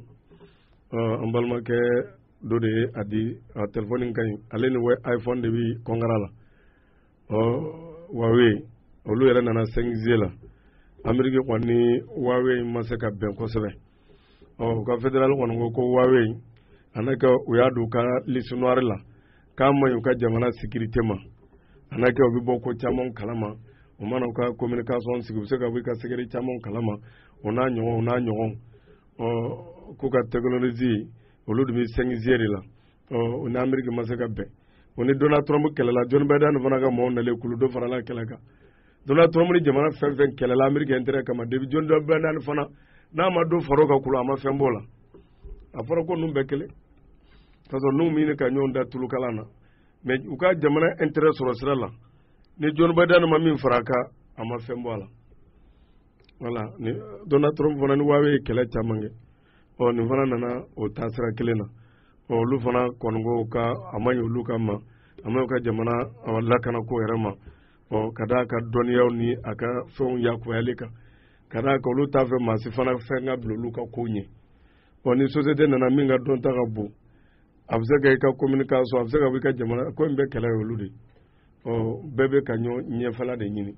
ɔ an balimakɛ dɔ de ye a di a telefɔni ka ɲi ale ni iphone de bi kɔnkara la ɔ wawe olu yɛrɛ nana sɛnkize la ameriki kɔni ni wawe ma se ka bɛn kosɛbɛ ɔ u ka federali kɔni ko ko wawe a na kɛ u y'a don u ka lisinwari la k'a man ɲi u ka jamana sikirite ma a na kɛ u bɛ bɔ ko caman kalama u mana u ka kominikasɔn sigi u bɛ se ka bɔ i ka sekere caman kalama o n'a ɲɔgɔn o n'a ɲɔgɔn ɔ k'u ka tɛkinolozi olu de bɛ sɛnkize de la o ni Ameriki ma se ka bɛn o ni Donald Trump kɛlɛla John Biden fana ka mɔgɔw nalen kulu dɔ farala a kɛlɛ kan Donald Trump ni jamana fɛn fɛn kɛlɛla Ameriki intérêt kama depuis John Biden fana n'a ma dɔ far'o kan kulu a ma fɛn b'o la a fɔra ko ninnu bɛɛ kelen k'a sɔrɔ n'u bɛ ɲini ka ɲɔgɔn da tulu kalan na mais u ka jamana intérêt sɔrɔ sira la ni John Biden ma min fara a kan a ma fɛn bɔ a la voilà ni Donald Trump fana ni Huawei ye kɛlɛ caman kɛ ɔ nin fana nana o taasira kelen na ɔ olu fana kɔni ko k'a ma ɲi olu ka ma a ma ka jamana lakana ko yɛrɛ ma ɔ ka d'a ka dɔnniyaw ni a ka fɛnw yakuyali kan ka d'a ka olu t'a fɛ maa si fana fɛn ka bila olu ka ko ɲɛ ɔ ni sosiyete nana min ka dɔnta ka bon a bɛ se ka i ka kominikasɔn a bɛ se ka i ka jamana ko in bɛɛ kɛlɛ ye olu de ye ɔ bɛɛ bɛ ka ɲɔgɔn ɲɛfɛla de ɲini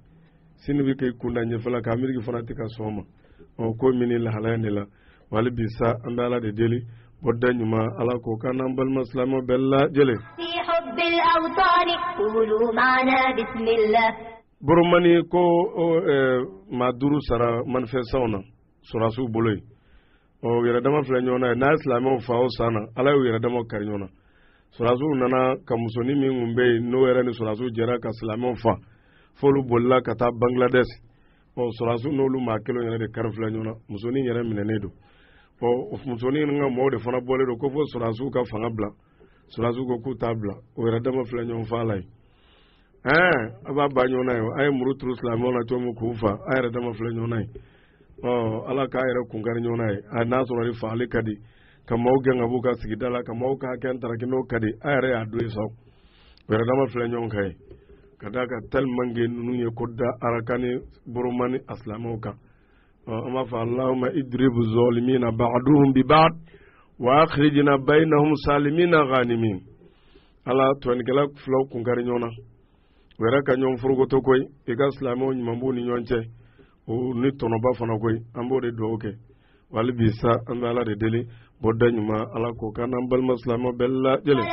sini bɛ k'i kunda ɲɛfɛla kan ameriki fana tɛ ka sɔn o ma ɔ ko min ni lahalaya in de la wali bi sa an bɛ ala de deli bɔda ɲuman ala k'o k'an n'an balima silamɛ bɛɛ lajɛlen. boromani ko maa duuru sara manifɛsitanw na. sɔrɔdasiw bolo yen u yɛrɛ dama filɛ ɲɔgɔn na ye n'a ye silamɛw fa o san na ala y'u yɛrɛ dama kari ɲɔgɔn na sɔrɔdasiw nana ka musonin min tun bɛ yen n'o yɛrɛ ni sɔrɔdasiw jɛra ka silamɛw fa f'olu bolila ka taa bangladesh ɔ sɔrɔdasiw n'olu maa kelen yɛrɛ de kari filɛ ɲɔgɔn na musonin yɛrɛ minɛnen don ɔ musonin ka mɔgɔw de fana bɔlen don ko fo sɔrɔdasiw ka fanga bila sɔrɔdasiw ko k'u t'a bila u yɛrɛ dama filɛ ɲɔgɔn fa la yen ɛɛ a b'a ba ɲɔgɔn na ye a ye muru turu silamɛw la cogo min k'u fa a yɛrɛ dama filɛ ɲɔgɔn na ye ɔ ala k'a yɛrɛ kun kari ɲɔgɔn na ye a n'a sɔrɔ ni fagali ka di ka maaw gɛn ka b'u ka sigida la ka maaw ka hakɛ ntaraki n'o ka di a yɛrɛ y'a don ye sa u yɛrɛ dama filɛ ɲɔgɔn kan ye ka d'a kan tellement que ninnu ye ko da arakani boromani a silamɛw kan ɔ an b'a fɔ allahumma idribu zolimina ba'duhum bi ba'd wa akhrijna bainahum salimina ghanimin ala tɔɲɔnikɛla filaw kun kari ɲɔgɔn na u yɛrɛ ka ɲɔgɔn forokoto koyi i ka silamɛw ɲuman b'u ni ɲɔgɔn cɛ o ni tɔnɔba fana koyi an b'o de dugawu kɛ wali bi sa an bɛ ala de deli bɔda ɲuman ala k'o k'an n'an balima silamɛ bɛɛ lajɛlen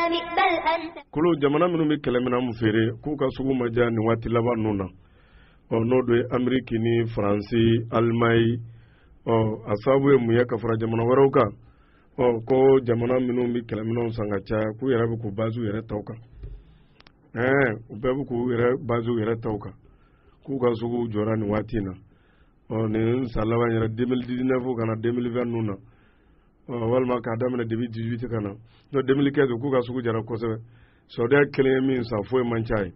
ko jamana minnu bɛ kɛlɛminɛn feere k'u ka sugu ma diya nin waati laban ninnu na ɔ n'o dɔ ye ameriki ni faransi alimaɲi ɔ a sababu ye mun ye ka fara jamana wɛrɛw kan ɔ ko jamana minnu bɛ kɛlɛminɛnw san ka caya k'u yɛrɛ bɛ k'u bazi u yɛrɛ taw kan ɛɛ u bɛɛ bɛ k'u yɛrɛ bazi u yɛrɛ taw kan k'u ka sugu jɔra nin waati in na ɔ nin san laban yɛrɛ 2019 ka na 2020 ninnu na ɔ walima k'a daminɛ 2018 ka na n'o 2015 k'u ka sugu jara kosɛbɛ saudiya kelen ye min san foyi man ca ye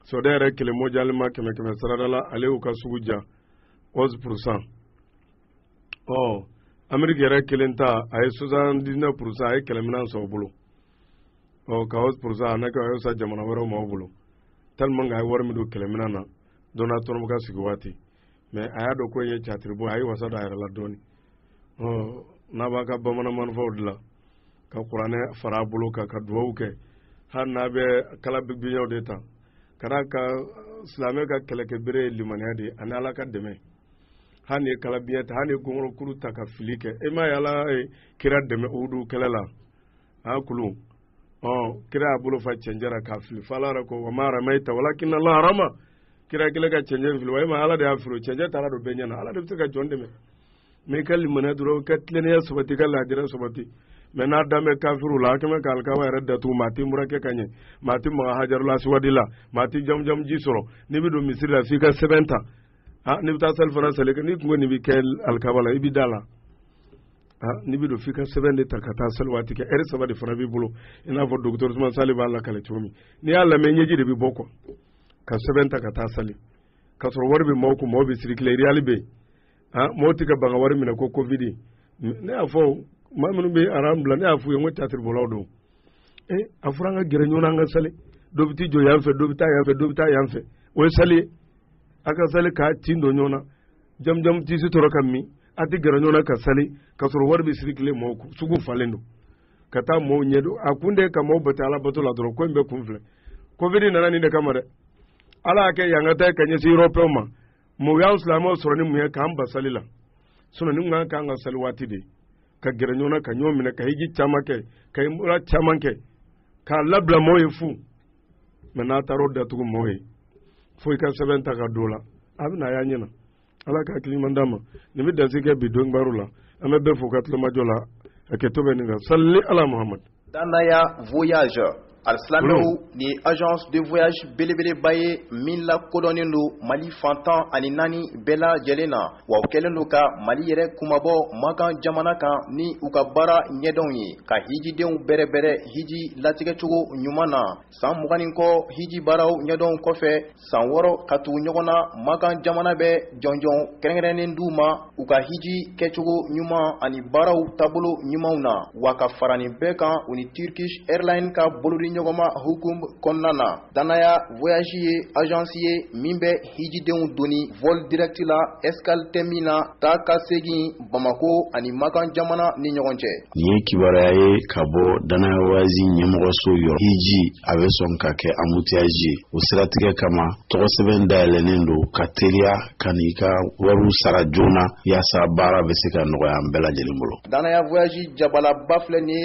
saudiya yɛrɛ kelen mondialement kɛmɛ kɛmɛsarada la ale y'u ka sugu diya 11 pourcent ɔ ameriki yɛrɛ kelen ta a ye 79 pourcent a ye kɛlɛminɛn san u bolo ɔ ka 11 pourcent a n'a kɛ a y'a san jamana wɛrɛw maaw bolo tellement que a ye wari min don kɛlɛminɛn na donald trump ka sigi waati mais a y'a dɔn ko ye catiribo a ye wasa don a yɛrɛ la dɔɔni ɔ n'a b'a ka bamanan marifaw dilan ka kuranɛ fara a bolo kan ka duwawu kɛ hali n'a bɛ kala ni biɲɛw de ta ka d'a kan silamɛ ka kɛlɛkɛbere ye limaniya de ye ani ala ka dɛmɛ hali n'i ye kala biɲɛ ta hali n'i ye gɔnkɔrɔkuru ta ka fili kɛ e m'a ye ala ye kira dɛmɛ uhudu kɛlɛ la a kulu ɔ kira y'a bolo fa cɛncɛn na k'a fili fo ala yɛrɛ ko wa ma ramayita walakinna ala rama kira kelen ka cɛncɛn fili wa e ma ala de y'a fili cɛncɛn taara don bɛɛ ɲɛ na ala de bɛ se ka jɔn dɛmɛ mɛ i ka limaniya dɔrɔn ka tilennenya sabati ka laadiriya sabati mɛ n'a dan bɛ kafiru la a kɛmɛ ka alikaba yɛrɛ datugu maa tɛ umura kɛ ka ɲɛ maa tɛ maga hajarul asuwadi la maa tɛ jamujamuji sɔrɔ n'i bɛ don misiri la f'i ka sɛbɛn ta aa n'i bɛ taa sali fana sali n'i tun ko nin bɛ kɛ alikaba la i bɛ da la aa n'i bɛ don f'i ka sɛbɛn de ta ka taa sali waati kɛ ɛri saba de fana b'i bolo i n'a fɔ dɔgɔtɔrɔ usuman sali b'a lakali cogo min n'i y'a lamɛn ɲɛji de bɛ bɔ ko ka sɛbɛn ta ka taa sali k'a sɔrɔ wari bɛ maaw kun maaw bɛ circuler riyali bɛ yen aa maaw tɛ ka ban ka wari minɛ ko kovidi ne y'a fɔ maa minnu bɛ aran bila ne y'a f'u ye n ko tiyatiribɔlaw don ee a fɔra an ka gɛrɛ ɲɔgɔn na an ka sali dɔ bɛ t'i jɔ yan fɛ dɔ bɛ taa yan fɛ dɔ bɛ taa yan fɛ o ye sali ye a ka sali k'a tin don ɲɔgɔn na jamujamu tɛ sɔrɔ ka min a tɛ gɛrɛ ɲɔgɔn na ka sali k'a sɔrɔ wari bɛ circuler mɔgɔw kun sugu falen don ka taa mɔgɔw ɲɛ don a kun de ka mɔgɔw bali ala bato la dɔrɔn ko in bɛɛ kun filɛ kovidi nana nin de kama dɛ ala y'a kɛ yan ka taa ka ɲɛsin erɔpeyɛnw ma mɔgɔ y'an silamɛw sɔrɔ ni mun ye k'an bali sali la sinɔn ni kun kan ka sali waati de ka gɛrɛ ɲɔgɔn na ka ɲɔgɔn minɛ ka hiji caman kɛ ka umura caman kɛ k'a labila mɔgɔw ye fu mɛ n'a taara o datugu mɔgɔ ye fo i ka sɛbɛn ta ka don la a bɛna a y'a ɲɛna ala ka hakili ɲuman d'an ma nin bɛ dansigi kɛ bi don baro la an bɛ bɛɛ fo ka tulomajɔ la a kɛtɔ bɛ nin kan salli ala muhamadu danaya voyage alisilamɛw ni agence de voyage belebeleba ye min lakodɔnnen don mali fan tan ani naani bɛɛ lajɛlen na wa u kɛlen don ka mali yɛrɛ kunmabɔ makan jamana kan ni u ka baara ɲɛdɔnw ye ka hijidenw bɛrɛbɛrɛ hiji latigɛcogo ɲuman na san mugan ni kɔ hiji baaraw ɲɛdɔn kɔfɛ san wɔɔrɔ ka tugu ɲɔgɔn na makan jamana bɛ jɔnjɔn kɛrɛnkɛrɛnnen d'u ma u ka hiji kɛcogo ɲuman ani baaraw taabolo ɲumanw na wa ka fara nin bɛɛ kan u ni turkish airlines ka bolodiɲɔgɔnma hukum kɔnɔna na Danaya voyage ye agence ye min bɛ hijidenw doni vol direct la escale tɛ min na taa ka segin Bamako ani Makan jamana ni ɲɔgɔn cɛ. Nin ye kibaruya ye ka bɔ Danaya voyage ɲɛmɔgɔso yɔrɔ. Hiji a bɛ sɔn ka kɛ embouteillage ye o siratigɛ kama tɔgɔsɛbɛn dayɛlɛnnen don ka teliya ka n'i ka wariw sara joona yaasa baara bɛ se ka nɔgɔya an bɛɛ lajɛlen bolo. Danaya voyage jabalaba filɛ nin ye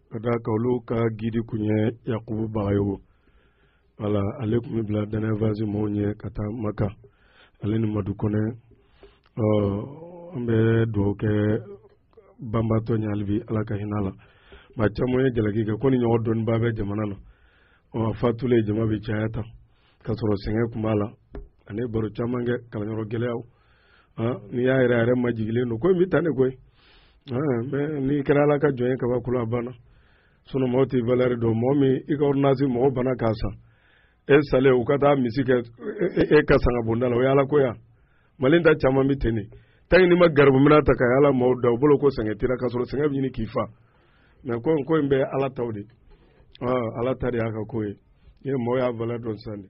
ka d'a kan olu ka gidi kun ye yakubu bagayogo wala ale tun bɛ bila danaya voyage mɔgɔw ɲɛ ka taa maka ale ni madu kɔnɛ ɔ an bɛ dugawu kɛ banbaatɔ ɲɛ halibi ala ka hinɛ a la maa caman ye jalaki kɛ ko nin ɲɔgɔn dɔnnibaa bɛ jamana na a fatulen jama bɛ caya tan ka sɔrɔ sɛgɛn tun b'a la ani baro caman kɛ kalanyɔrɔ gɛlɛyaw n'i y'a yɛrɛ yɛrɛ majigilen don ko in bɛ tan de koyi mɛ n'i kɛra ala ka jɔn ye kaba kula banna sinɔn mɔgɔ t'i valɛri dɔn mɔgɔ min i ka ordonnance mɔgɔ banna k'a san e salen u ka taa misi kɛ e ka sanga bonda la o ye ala ko yan mali ta caman bɛ ten de tan n'i ma garibu minan ta ka yaala maaw da u bolo ko sɛgɛn t'i ra ka sɔrɔ sɛgɛn bɛ ɲini k'i fa mɛ ko ko in bɛ ala taw de ala ta de y'a ka ko ye ni mɔgɔ y'a valɛri dɔn sisan de